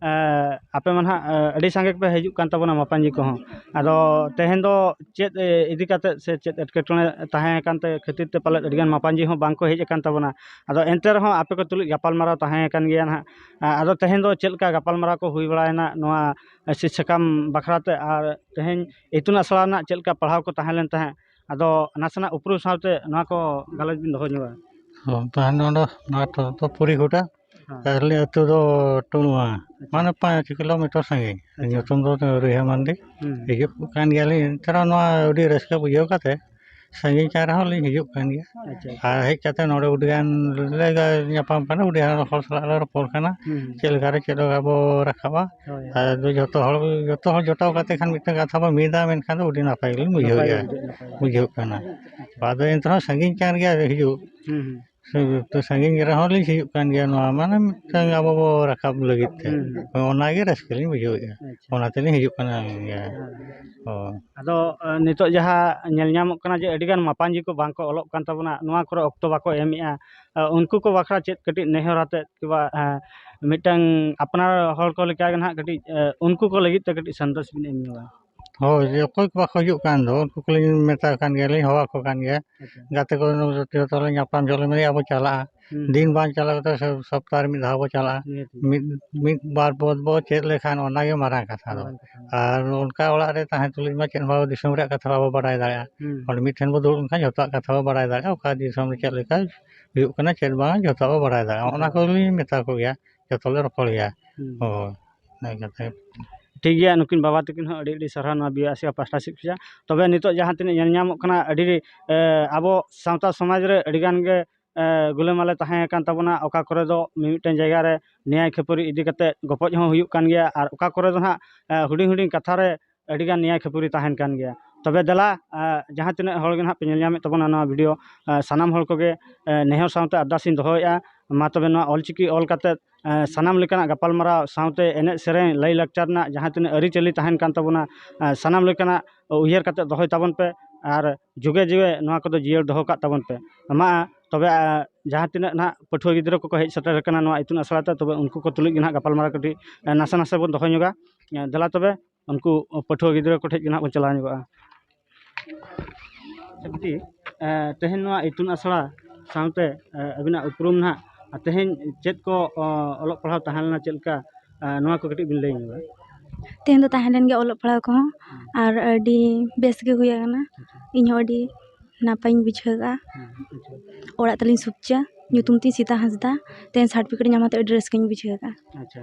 ᱟᱯᱮ ᱢᱟ ᱱᱟᱦᱟᱜ ᱟᱹᱰᱤ ᱥᱟᱸᱜᱮ ᱯᱮ ᱦᱤᱡᱩᱜ ᱠᱟᱱ ᱛᱟᱵᱚᱱᱟ ᱢᱟᱯᱟᱡᱤ ᱠᱚᱦᱚᱸ ᱟᱫᱚ ᱛᱮᱦᱮᱧ ᱫᱚ ᱪᱮᱫ ᱤᱫᱤ ᱠᱟᱛᱮᱫ ᱥᱮ ᱪᱮᱫ ᱮᱴᱠᱮᱴᱚᱬᱮ ᱛᱟᱦᱮᱸ ᱟᱠᱟᱱ ᱛᱮ ᱠᱷᱟᱹᱛᱤᱨ ᱛᱮ ᱯᱟᱞᱮᱫ ᱟᱹᱰᱤ ᱜᱟᱱ ᱢᱟᱯᱟᱡᱤ ᱦᱚᱸ ᱵᱟᱝ ᱠᱚ ᱦᱮᱡ ᱟᱠᱟᱱ ᱛᱟᱵᱚᱱᱟ ᱟᱫᱚ ᱮᱱᱛᱮ ᱨᱮᱦᱚᱸ ᱟᱯᱮ ᱠᱚ ᱛᱩᱞᱩᱡ ᱜᱟᱯᱟᱞᱢᱟᱨᱟᱣ ᱛᱟᱦᱮᱸ ᱟᱠᱟᱱ ᱜᱮᱭᱟ ᱱᱟᱦᱟᱜ ᱟᱫᱚ ᱛᱮᱦᱮᱧ ᱫᱚ ᱪᱮᱫ ᱞᱮᱠᱟ ᱜᱟᱯᱟᱞᱢᱟᱨᱟᱣ ᱠᱚ ᱦᱩᱭ ᱵᱟᱲᱟᱭᱮᱱᱟ ᱱᱚᱣᱟ ᱥᱤᱫᱽ ᱥᱟᱠᱟᱢ ᱵᱟᱠᱷᱨᱟ ᱛᱮ ᱟᱨ ᱛᱮᱦᱮᱧ ᱤᱛᱩᱱ ᱟᱥᱲᱟ ᱨᱮᱱᱟᱜ ᱪᱮᱫ ᱞᱮᱠᱟ ᱯᱟᱲᱦᱟᱣ ᱠᱚ ᱛᱟᱦᱮᱸ ᱞᱮᱱ ᱛᱟᱦᱮᱸᱫ ᱟᱫᱚ ᱱᱟᱥᱮᱱᱟᱜ ᱩᱯᱨᱩᱢ ᱥᱟᱶᱛᱮ ᱱᱚᱣᱟ ᱠᱚ ᱜᱟᱞᱚᱪ ᱵᱤᱱ ᱫᱚᱦᱚ ᱧᱚᱜᱟ ᱦᱚᱸ ᱛᱟᱦᱮᱱ ᱱᱚᱰᱮ ᱱᱚᱣᱟ ᱛᱚ ᱯᱚᱨᱤ ᱜᱚᱴᱟ ᱟᱞᱮ ᱟᱹᱛᱩ ᱫᱚ ᱴᱩᱲᱣᱟ ᱢᱟᱱᱮ ᱯᱟᱸᱪ ᱠᱤᱞᱳᱢᱤᱴᱟᱨ ᱥᱟᱺᱜᱤᱧ ᱧᱩᱛᱩᱢ ᱫᱚ ᱨᱤᱦᱟᱹ ᱢᱟᱱᱰᱤ ᱦᱤᱡᱩᱜ ᱠᱟᱱ ᱜᱮᱭᱟᱞᱤᱧ ᱮᱱᱛᱮ ᱨᱮᱦᱚᱸ ᱱᱚᱣᱟ ᱟᱹᱰᱤ ᱨᱟᱹᱥᱠᱟᱹ ᱵᱩᱡᱷᱟᱹᱣ ᱠᱟᱛᱮᱫ ᱥᱟᱺᱜᱤᱧ ᱠᱟᱱ ᱨᱮᱦᱚᱸ ᱞᱤᱧ ᱦᱤᱡᱩᱜ ᱠᱟᱱ ᱜᱮᱭᱟ ᱟᱨ ᱦᱮᱡ ᱠᱟᱛᱮᱫ ᱱᱚᱰᱮ ᱟᱹᱰᱤ ᱜᱟᱱ ᱞᱮ ᱧᱟᱯᱟᱢ ᱠᱟᱱᱟ ᱟᱹᱰᱤ ᱜᱟᱱ ᱦᱚᱲ ᱥᱟᱞᱟᱜ ᱞᱮ ᱨᱚᱯᱚᱲ ᱠᱟᱱᱟ ᱪᱮᱫ ᱞᱮᱠᱟ ᱨᱮ ᱪᱮᱫ ᱞᱮᱠᱟ ᱵᱚᱱ ᱨᱟᱠᱟᱵᱟ ᱟᱨ ᱡᱚᱛᱚ ᱦᱚᱲ ᱡᱚᱛᱚ ᱦᱚᱲ ᱡᱚᱴᱟᱣ ᱠᱟᱛᱮᱫ ᱠᱷᱟᱱ ᱢᱤᱫᱴᱟᱱ ᱠᱟᱛᱷᱟ ᱵᱚᱱ ᱢᱤᱫᱟ ᱢᱮᱱᱠᱷᱟᱱ ᱫᱚ ᱟᱹᱰᱤ ᱱᱟᱯᱟᱭ ᱜᱮᱞᱤᱧ ᱵᱩᱡᱷᱟᱹᱣᱮᱫᱼᱟ ᱵᱩᱡᱷᱟᱹᱜ ᱠᱟᱱᱟ ᱟᱫᱚ ᱮᱱᱛᱮ ᱨᱮᱦᱚᱸ ᱥᱟᱺᱜᱤᱧ ᱠᱟᱱ ᱜᱮᱭᱟ ᱦᱤᱡᱩᱜ ᱥᱮ ᱥᱟᱺᱜᱤᱧ ᱨᱮᱦᱚᱸ ᱞᱤᱧ ᱥᱤᱭᱳᱜ ᱠᱟᱱ ᱜᱮᱭᱟ ᱱᱚᱣᱟ ᱢᱟᱱᱮ ᱢᱤᱫᱴᱟᱝ ᱟᱵᱚ ᱵᱚ ᱨᱟᱠᱟᱵ ᱞᱟᱹᱜᱤᱫ ᱛᱮ ᱦᱳᱭ ᱚᱱᱟ ᱜᱮ ᱨᱟᱹᱥᱠᱟᱹ ᱞᱤᱧ ᱵᱩᱡᱷᱟᱹᱣᱮᱫᱼᱟ ᱚᱱᱟ ᱛᱮᱞᱤᱧ ᱦᱤᱡᱩᱜ ᱠᱟᱱᱟ ᱦᱳᱭ ᱟᱫᱚ ᱱᱤᱛᱚᱜ ᱡᱟᱦᱟᱸ ᱧᱮᱞ ᱧᱟᱢᱚᱜ ᱠᱟᱱᱟ ᱡᱮ ᱟᱹᱰᱤᱜᱟᱱ ᱢᱟᱯᱟᱡᱤ ᱠᱚ ᱵᱟᱝ ᱠᱚ ᱚᱞᱚᱜ ᱠᱟᱱ ᱛᱟᱵᱚᱱᱟ ᱱᱚᱣᱟ ᱠᱚᱨᱮ ᱚᱠᱛᱚ ᱵᱟᱠᱚ ᱮᱢᱮᱜᱼᱟ ᱩᱱᱠᱩ ᱠᱚ ᱵᱟᱠᱷᱨᱟ ᱪᱮᱫ ᱠᱟᱹᱴᱤᱡ ᱱᱮᱦᱚᱨ ᱟᱛᱮᱫ ᱠᱤᱵᱟ ᱢᱤᱫᱴᱟᱝ ᱟᱯᱱᱟᱨ ᱦᱚᱲ ᱠᱚ ᱞᱮᱠᱟ ᱜᱮ ᱱᱟᱦᱟᱜ ᱠᱟᱹᱴᱤᱡ ᱩᱱᱠᱩ ᱠᱚ ᱞᱟᱹᱜᱤᱫ ᱛᱮ ᱠᱟᱹᱴᱤᱡ ᱥᱟᱸᱫᱮᱥ ᱵᱤᱱ ᱮᱢ ᱧᱚᱜᱟ ᱦᱳᱭ ᱚᱠᱚᱭ ᱠᱚ ᱵᱟᱠᱚ ᱦᱤᱡᱩᱜ ᱠᱟᱱ ᱫᱚ ᱩᱱᱠᱩ ᱠᱚᱞᱤᱧ ᱢᱮᱛᱟ ᱠᱚ ᱠᱟᱱ ᱜᱮᱭᱟᱞᱤᱧ ᱦᱚᱦᱚ ᱟᱠᱚ ᱠᱟᱱ ᱜᱮᱭᱟ ᱜᱟᱛᱮ ᱠᱚ ᱡᱚᱛᱚ ᱞᱮ ᱧᱟᱯᱟᱢ ᱡᱚᱠᱷᱚᱱ ᱞᱮ ᱢᱮᱱᱟ ᱮᱭᱟ ᱵᱚᱱ ᱪᱟᱞᱟᱜᱼᱟ ᱫᱤᱱ ᱵᱟᱝ ᱪᱟᱞᱟᱣ ᱠᱟᱛᱮᱫ ᱥᱚᱯᱛᱟᱦᱚᱸ ᱨᱮ ᱢᱤᱫ ᱫᱷᱟᱣ ᱵᱚᱱ ᱪᱟᱞᱟᱜᱼᱟ ᱢᱤᱫ ᱢᱤᱫ ᱵᱟᱨ ᱯᱚᱫᱽ ᱵᱚᱱ ᱪᱮᱫ ᱞᱮᱠᱷᱟᱱ ᱚᱱᱟᱜᱮ ᱢᱟᱨᱟᱝ ᱠᱟᱛᱷᱟ ᱫᱚ ᱟᱨ ᱚᱱᱠᱟ ᱚᱲᱟᱜ ᱨᱮ ᱛᱟᱦᱮᱸ ᱛᱩᱞᱩᱡ ᱢᱟ ᱪᱮᱫ ᱦᱚᱸ ᱵᱟᱵᱚᱱ ᱫᱤᱥᱚᱢ ᱨᱮᱭᱟᱜ ᱠᱟᱛᱷᱟ ᱵᱟᱵᱚᱱ ᱵᱟᱰᱟᱭ ᱫᱟᱲᱮᱭᱟᱜᱼᱟ ᱚᱸᱰᱮ ᱢᱤᱫ ᱴᱷᱮᱱ ᱵᱚᱱ ᱫᱩᱲᱩᱵ ᱞᱮᱱᱠᱷᱟᱱ ᱡᱚᱛᱚᱣᱟᱜ ᱠᱟᱛᱷᱟ ᱵᱚᱱ ᱵᱟᱲᱟᱭ ᱫᱟᱲᱮᱭᱟᱜᱼᱟ ᱚᱠᱟ ᱫᱤᱥᱚᱢ ᱨᱮ ᱪᱮᱫ ᱞᱮᱠᱟ ᱦᱩᱭᱩᱜ ᱠᱟᱱᱟ ᱪᱮᱫ ᱵᱟᱝ ᱡᱚᱛᱚᱣᱟᱜ ᱵᱚᱱ ᱵᱟᱲᱟᱭ ᱫᱟᱲᱮᱭᱟᱜᱼᱟ ᱚᱱᱟ ᱠᱚᱞᱤᱧ ᱢᱮᱛᱟ ᱠᱚᱜᱮᱭᱟ ᱡᱚᱛᱚ ᱞᱮ ᱨᱚᱯᱚᱲ ᱜᱮᱭᱟ ᱦᱳᱭ ᱤᱱᱟᱹ ᱠᱟᱛᱮ ᱴᱷᱤᱠ ᱜᱮᱭᱟ ᱱᱩᱠᱤᱱ ᱵᱟᱵᱟ ᱛᱟᱹᱠᱤᱱ ᱦᱚᱸ ᱟᱹᱰᱤ ᱟᱹᱰᱤ ᱥᱟᱨᱦᱟᱣ ᱱᱚᱣᱟ ᱵᱤ ᱟᱭ ᱥᱤ ᱯᱟᱥᱴᱟ ᱥᱮᱫ ᱠᱷᱚᱱᱟᱜ ᱛᱚᱵᱮ ᱱᱤᱛᱚᱜ ᱡᱟᱦᱟᱸ ᱛᱤᱱᱟᱹᱜ ᱧᱮᱞ ᱧᱟᱢᱚᱜ ᱠᱟᱱᱟ ᱟᱹᱰᱤ ᱟᱵᱚ ᱥᱟᱶᱛᱟ ᱥᱚᱢᱟᱡᱽ ᱨᱮ ᱟᱹᱰᱤ ᱜᱟᱱ ᱜᱮ ᱜᱩᱞᱟᱹ ᱢᱟᱞᱮ ᱛᱟᱦᱮᱸ ᱠᱟᱱ ᱛᱟᱵᱚᱱᱟ ᱚᱠᱟ ᱠᱚᱨᱮ ᱫᱚ ᱢᱤᱢᱤᱫᱴᱟᱝ ᱡᱟᱭᱜᱟ ᱨᱮ ᱱᱮᱭᱟᱭ ᱠᱷᱟᱹᱯᱟᱹᱨᱤ ᱤᱫᱤ ᱠᱟᱛᱮ ᱜᱚᱯᱚᱡ ᱦᱚᱸ ᱦᱩᱭᱩᱜ ᱠᱟᱱ ᱜᱮᱭᱟ ᱟᱨ ᱚᱠᱟ ᱠᱚᱨᱮ ᱫᱚ ᱦᱟᱸᱜ ᱦᱩᱰᱤᱧ ᱦᱩᱰᱤᱧ ᱠᱟᱛᱷᱟ ᱨᱮ ᱟᱹᱰᱤ ᱜᱟᱱ ᱱᱮᱭᱟ ᱠᱷᱟᱹᱯᱟᱹᱨᱤ ᱛᱟᱦᱮᱱ ᱠᱟᱱ ᱜᱮᱭᱟ ᱛᱚᱵᱮ ᱫᱮᱞᱟ ᱡᱟᱦᱟᱸ ᱛᱤᱱᱟᱹᱜ ᱦᱚᱲ ᱜᱮ ᱱᱟᱦᱟᱜ ᱯᱮ ᱧᱮᱞ ᱧᱟᱢᱮᱫ ᱛᱟᱵᱚᱱᱟ ᱱᱚᱣᱟ ᱵᱷᱤᱰᱭᱳ ᱥᱟᱱᱟᱢ ᱦᱚᱲ ᱠᱚᱜᱮ ᱱᱮᱦᱚᱨ ᱥᱟᱶᱛᱮ ᱟᱨᱫᱟᱥ ᱤᱧ ᱫᱚᱦᱚᱭᱮᱫᱼᱟ ᱢᱟ ᱛᱚᱵᱮ ᱱᱚᱣᱟ ᱚᱞ ᱪᱤᱠᱤ ᱚᱞ ᱠᱟᱛᱮ ᱥᱟᱱᱟᱢ ᱞᱮᱠᱟᱱᱟᱜ ᱜᱟᱯᱟᱞᱢᱟᱨᱟᱣ ᱥᱟᱶᱛᱮ ᱮᱱᱮᱡ ᱥᱮᱨᱮᱧ ᱞᱟᱹᱭ ᱞᱟᱠᱪᱟᱨ ᱨᱮᱱᱟᱜ ᱡᱟᱦᱟᱸ ᱛᱤᱱᱟᱹᱜ ᱟᱹᱨᱤᱪᱟᱹᱞᱤ ᱛᱟᱦᱮᱱ ᱠᱟᱱ ᱛᱟᱵᱚᱱᱟ ᱥᱟᱱᱟᱢ ᱞᱮᱠᱟᱱᱟᱜ ᱩᱭᱦᱟᱹᱨ ᱠᱟᱛᱮ ᱫᱚᱦᱚᱭ ᱛᱟᱵᱚᱱ ᱯᱮ ᱟᱨ ᱡᱩᱜᱮ ᱡᱩᱜᱮ ᱱᱚᱣᱟ ᱠᱚᱫᱚ ᱡᱤᱭᱟᱹᱲ ᱫᱚᱦᱚ ᱠᱟᱜ ᱛᱟᱵᱚᱱ ᱯᱮ ᱢᱟ ᱛᱚᱵᱮ ᱡᱟᱦᱟᱸ ᱛᱤᱱᱟᱹᱜ ᱱᱟᱦᱟᱜ ᱯᱟᱹᱴᱷᱩᱣᱟᱹ ᱜᱤᱫᱽᱨᱟᱹ ᱠᱚᱠᱚ ᱦᱮᱡ ᱥᱮᱴᱮᱨ ᱟᱠᱟᱱᱟ ᱱᱚᱣᱟ ᱤᱛᱩᱱ ᱟᱥᱲᱟ ᱛᱮ ᱛᱚᱵᱮ ᱩᱱᱠᱩ ᱠᱚ ᱛᱩᱞᱩᱡ ᱜᱮ ᱱᱟᱦᱟᱜ ᱜᱟᱯᱟᱞᱢᱟᱨᱟᱣ ᱠᱟᱹᱴᱤᱡ ᱱᱟᱥᱮ ᱱᱟᱥᱮ ᱵᱚᱱ ᱫᱚᱦᱚ ᱧᱚᱜᱟ ᱫᱮᱞᱟ ᱛᱚᱵᱮ ᱩᱱᱠᱩ ᱯᱟᱹᱴᱷᱩᱣᱟᱹ ᱜᱤᱫᱽᱨᱟᱹ ᱠᱚᱴᱷᱮᱱ ᱜᱮ ᱦᱟᱸᱜ ᱵᱚᱱ ᱪᱟᱞᱟᱣ ᱧᱚᱜᱚᱜᱼᱟ ᱟᱪᱪᱷᱟ ᱵᱤᱴᱤ ᱛᱮᱦᱮᱧ ᱱᱚᱣᱟ ᱤᱛᱩᱱ ᱟᱥᱲᱟ ᱥᱟᱶᱛᱮ ᱟᱹᱵᱤᱱᱟᱜ ᱩᱯᱨᱩᱢ ᱱᱟᱦᱟᱜ ᱟᱨ ᱛᱮᱦᱮᱧ ᱪᱮᱫ ᱠᱚ ᱚᱞᱚᱜ ᱯᱟᱲᱦᱟᱣ ᱛᱟᱦᱮᱸ ᱞᱮᱱᱟ ᱪᱮᱫ ᱞᱮᱠᱟ ᱱᱚᱣᱟ ᱠᱚ ᱠᱟᱹᱴᱤᱡ ᱵᱤᱱ ᱞᱟᱹᱭ ᱧᱚᱜᱟ ᱛᱮᱦᱮᱧ ᱫᱚ ᱛᱟᱦᱮᱸ ᱞᱮᱱ ᱜᱮᱭᱟ ᱚᱞᱚᱜ ᱯᱟᱲᱦᱟᱣ ᱠᱚᱦᱚᱸ ᱟᱨ ᱟᱹᱰᱤ ᱵᱮᱥ ᱜᱮ ᱦᱩᱭ ᱟᱠᱟᱱᱟ ᱤᱧ ᱦᱚᱸ ᱟᱹᱰᱤ ᱱᱟᱯᱟᱭᱤᱧ ᱵᱩᱡᱷᱟᱹᱣ ᱠᱟᱜᱼᱟ ᱚᱲᱟᱜ ᱛᱟᱹᱞᱤᱧ ᱥᱩᱠᱪᱟ ᱧᱩᱛᱩᱢ ᱛᱤᱧ ᱥᱤᱛᱟ ᱦᱟᱸᱥᱫᱟ ᱛᱮᱦᱮᱧ ᱥᱟᱨᱴᱤᱯᱷᱤᱠᱮᱴ ᱧᱟᱢ ᱠᱟᱛᱮᱫ ᱟᱹᱰᱤ ᱨᱟᱹᱥᱠᱟᱹᱧ ᱵᱩᱡᱷᱟᱹᱣ ᱠᱟᱜᱼᱟ ᱟᱪᱪᱷᱟ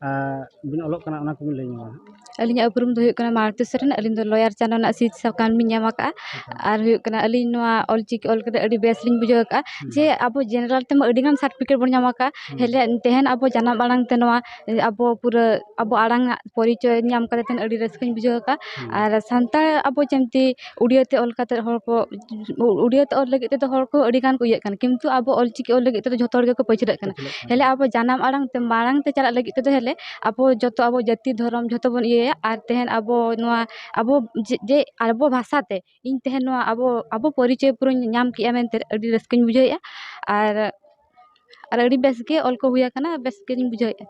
ᱵᱤᱱ ᱚᱞᱚᱜ ᱠᱟᱱᱟ ᱚᱱᱟ ᱠᱚᱵᱤᱱ ᱞᱟᱹᱭ ᱧᱚᱜᱟ ᱟᱹᱞᱤᱧᱟᱜ ᱩᱯᱨᱩᱢ ᱫᱚ ᱦᱩᱭᱩᱜ ᱠᱟᱱᱟ ᱢᱟᱞᱚᱛᱤ ᱥᱚᱨᱮᱱ ᱟᱹᱞᱤᱧ ᱫᱚ ᱞᱚᱭᱟᱨ ᱪᱟᱱᱟ ᱨᱮᱱᱟᱜ ᱥᱤᱫ ᱥᱟᱠᱟᱢ ᱞᱤᱧ ᱧᱟᱢ ᱠᱟᱜᱼᱟ ᱟᱨ ᱦᱩᱭᱩᱜ ᱠᱟᱱᱟ ᱟᱹᱞᱤᱧ ᱱᱚᱣᱟ ᱚᱞ ᱪᱤᱠᱤ ᱚᱞ ᱠᱟᱛᱮ ᱟᱹᱰᱤ ᱵᱮᱥ ᱞᱤᱧ ᱵᱩᱡᱷᱟᱹᱣ ᱠᱟᱜᱼᱟ ᱡᱮ ᱟᱵᱚ ᱡᱮᱱᱟᱨᱮᱞ ᱛᱮᱢᱟ ᱟᱹᱰᱤ ᱜᱟᱱ ᱥᱟᱨᱴᱚᱯᱷᱤᱠᱮᱴ ᱵᱚᱱ ᱧᱟᱢ ᱠᱟᱜᱼᱟ ᱦᱮᱡ ᱞᱮᱱ ᱛᱟᱦᱮᱱ ᱟᱵᱚ ᱡᱟᱱᱟᱢ ᱟᱲᱟᱝ ᱛᱮ ᱱᱚᱣᱟ ᱟᱵᱚ ᱯᱩᱨᱟᱹ ᱟᱵᱚ ᱟᱲᱟᱝ ᱟᱜ ᱯᱚᱨᱤᱪᱚᱭ ᱧᱟᱢ ᱠᱟᱛᱮ ᱟᱹᱰᱤ ᱨᱟᱹᱥᱠᱟᱹᱧ ᱵᱩᱡᱷᱟᱹᱣ ᱠᱟᱜᱼᱟ ᱟᱨ ᱥᱟᱱᱛᱟᱲ ᱟᱵᱚ ᱡᱮᱢᱛᱤ ᱩᱲᱤᱭᱟᱹ ᱛᱮ ᱚᱞ ᱠᱟᱛᱮᱫ ᱦᱚᱲ ᱠᱚ ᱩᱲᱤᱭᱟᱹ ᱛᱮ ᱚᱞ ᱞᱟᱹᱜᱤᱫ ᱛᱮᱫᱚ ᱦᱚᱲ ᱠᱚ ᱟᱹᱰᱤ ᱜᱟᱱ ᱠᱚ ᱤᱭᱟᱹᱜ ᱠᱟᱱᱟ ᱠᱤᱱᱛᱩ ᱟᱵᱚ ᱚᱞ ᱪᱤᱠᱤ ᱚᱞ ᱞᱟᱹᱜᱤᱫ ᱛᱮᱫᱚ ᱡᱷᱚᱛᱚ ᱦᱚᱲ ᱜᱮᱠᱚ ᱯᱟᱹᱪᱷᱞᱟᱹᱜ ᱠᱟᱱᱟ ᱦᱮᱸᱞᱮ ᱟᱵᱚ ᱡᱟᱱᱟᱢ ᱟᱲᱟᱝ ᱛᱮ ᱢᱟᱲᱟᱝ ᱛᱮ ᱪᱟᱞᱟᱜ ᱞᱟᱹᱜᱤᱫ ᱛᱮᱫᱚ ᱦᱮᱸᱞᱮ ᱟᱵᱚ ᱡᱚᱛᱚ ᱟᱵᱚ ᱡᱟᱹᱛᱤ ᱫᱷᱚᱨᱚᱢ ᱡᱷᱚᱛᱚ ᱵᱚᱱ ᱤᱭᱟᱹᱭᱟ ᱟᱨ ᱛᱮᱦᱮᱧ ᱟᱵᱚ ᱱᱚᱣᱟ ᱟᱵᱚ ᱡᱮ ᱟᱵᱚ ᱵᱷᱟᱥᱟ ᱛᱮ ᱤᱧ ᱛᱮᱦᱮᱧ ᱱᱚᱣᱟ ᱟᱵᱚ ᱟᱵᱚ ᱯᱚᱨᱤᱪᱚᱭ ᱯᱩᱨᱟᱹᱧ ᱧᱟᱢ ᱠᱮᱫᱼᱟ ᱢᱮᱱᱛᱮ ᱟᱹᱰᱤ ᱨᱟᱹᱥᱠᱟᱹᱧ ᱵᱩᱡᱷᱟᱹᱣᱮᱫᱼᱟ ᱟᱨ ᱟᱨ ᱟᱹᱰᱤ ᱵᱮᱥ ᱜᱮ ᱚᱞ ᱠᱚ ᱦᱩᱭ ᱟᱠᱟᱱᱟ ᱵᱮᱥ ᱜᱮᱞᱤᱧ ᱵᱩᱡᱷᱟᱹᱣᱮᱜᱼᱟ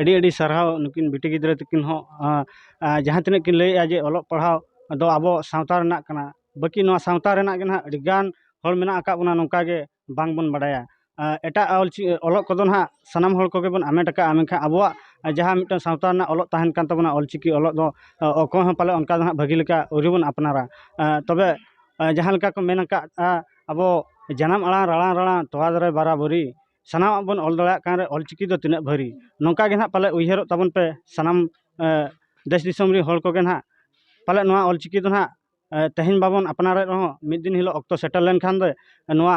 ᱟᱹᱰᱤ ᱟᱹᱰᱤ ᱥᱟᱨᱦᱟᱣ ᱱᱩᱠᱤᱱ ᱵᱤᱴᱤ ᱜᱤᱫᱽᱨᱟᱹ ᱛᱟᱹᱠᱤᱱ ᱦᱚᱸ ᱡᱟᱦᱟᱸ ᱛᱤᱱᱟᱹᱜ ᱠᱤᱱ ᱞᱟᱹᱭᱮᱜᱼᱟ ᱡᱮ ᱚᱞᱚᱜ ᱯᱟᱲᱦᱟᱣ ᱫᱚ ᱟᱵᱚ ᱥᱟᱶᱛᱟ ᱨᱮᱱᱟᱜ ᱠᱟᱱᱟ ᱵᱟᱹᱠᱤ ᱱᱚᱣᱟ ᱥᱟᱶᱛᱟ ᱨᱮᱱᱟᱜ ᱜᱮ ᱦᱟᱸᱜ ᱟᱹᱰᱤ ᱜᱟᱱ ᱦᱚᱲ ᱢᱮᱱᱟᱜ ᱟᱠᱟᱫ ᱵᱚᱱᱟ ᱱᱚᱝᱠᱟ ᱜᱮ ᱵᱟᱝ ᱵᱚᱱ ᱵᱟᱰᱟᱭᱟ ᱮᱴᱟᱜ ᱚᱞ ᱪᱤᱠᱤ ᱚᱞᱚᱜ ᱠᱚᱫᱚ ᱦᱟᱸᱜ ᱥᱟᱱᱟᱢ ᱦᱚᱲ ᱠᱚᱜᱮ ᱵᱚᱱ ᱦᱟᱢᱮᱴ ᱟᱠᱟᱫᱼᱟ ᱢᱮᱱᱠᱷᱟᱱ ᱟᱵᱚᱣᱟᱜ ᱡᱟᱦᱟᱸ ᱢᱤᱫᱴᱟᱝ ᱥᱟᱶᱛᱟ ᱨᱮᱱᱟᱜ ᱚᱞᱚᱜ ᱛᱟᱦᱮᱱ ᱠᱟᱱ ᱛᱟᱵᱚᱱᱟ ᱚᱞ ᱪᱤᱠᱤ ᱚᱞᱚᱜ ᱫᱚ ᱚᱠᱚᱭ ᱦᱚᱸ ᱯᱟᱞᱮ ᱚᱱᱠᱟ ᱫᱚ ᱦᱟᱸᱜ ᱵᱷᱟᱹᱜᱤ ᱞᱮᱠᱟ ᱟᱹᱣᱨᱤ ᱵᱚᱱ ᱟᱯᱱᱟᱨᱟ ᱛᱚᱵᱮ ᱡᱟᱦᱟᱸ ᱞᱮᱠᱟ ᱠᱚ ᱢᱮᱱ ᱟᱠᱟᱫᱼᱟ ᱟᱵᱚ ᱡᱟᱱᱟᱢ ᱟᱲᱟᱝ ᱨᱟᱲᱟᱝ ᱨᱟᱲᱟᱝ ᱛᱚᱣᱟ ᱫᱟᱨᱮ ᱵᱟᱨᱟ ᱵᱟᱹᱨᱤ ᱥᱟᱱᱟᱢᱟᱜ ᱵᱚᱱ ᱚᱞ ᱫᱟᱲᱮᱭᱟᱜ ᱠᱟᱱ ᱨᱮ ᱚᱞ ᱪᱤᱠᱤ ᱫᱚ ᱛᱤᱱᱟᱹᱜ ᱵᱷᱟᱹᱨᱤ ᱱᱚᱝᱠᱟ ᱜᱮ ᱱᱟᱦᱟᱜ ᱯᱟᱞᱮ ᱩᱭᱦᱟᱹᱨᱚᱜ ᱛᱟᱵᱚᱱ ᱯᱮ ᱥᱟᱱᱟᱢ ᱫᱮᱥ ᱫᱤᱥᱚᱢ ᱨᱮᱱ ᱦᱚᱲ ᱠᱚᱜᱮ ᱱᱟᱦᱟᱜ ᱯᱟᱞᱮᱫ ᱱᱚᱣᱟ ᱚᱞ ᱪᱤᱠᱤ ᱫᱚ ᱱᱟᱦᱟᱜ ᱛᱮᱦᱮᱧ ᱵᱟᱵᱚᱱ ᱟᱯᱱᱟᱨᱮᱫ ᱨᱮᱦᱚᱸ ᱢᱤᱫ ᱫᱤᱱ ᱦᱤᱞᱳᱜ ᱚᱠᱛᱚ ᱥᱮᱴᱮᱨ ᱞᱮᱱᱠᱷᱟᱱ ᱫᱚ ᱱᱚᱣᱟ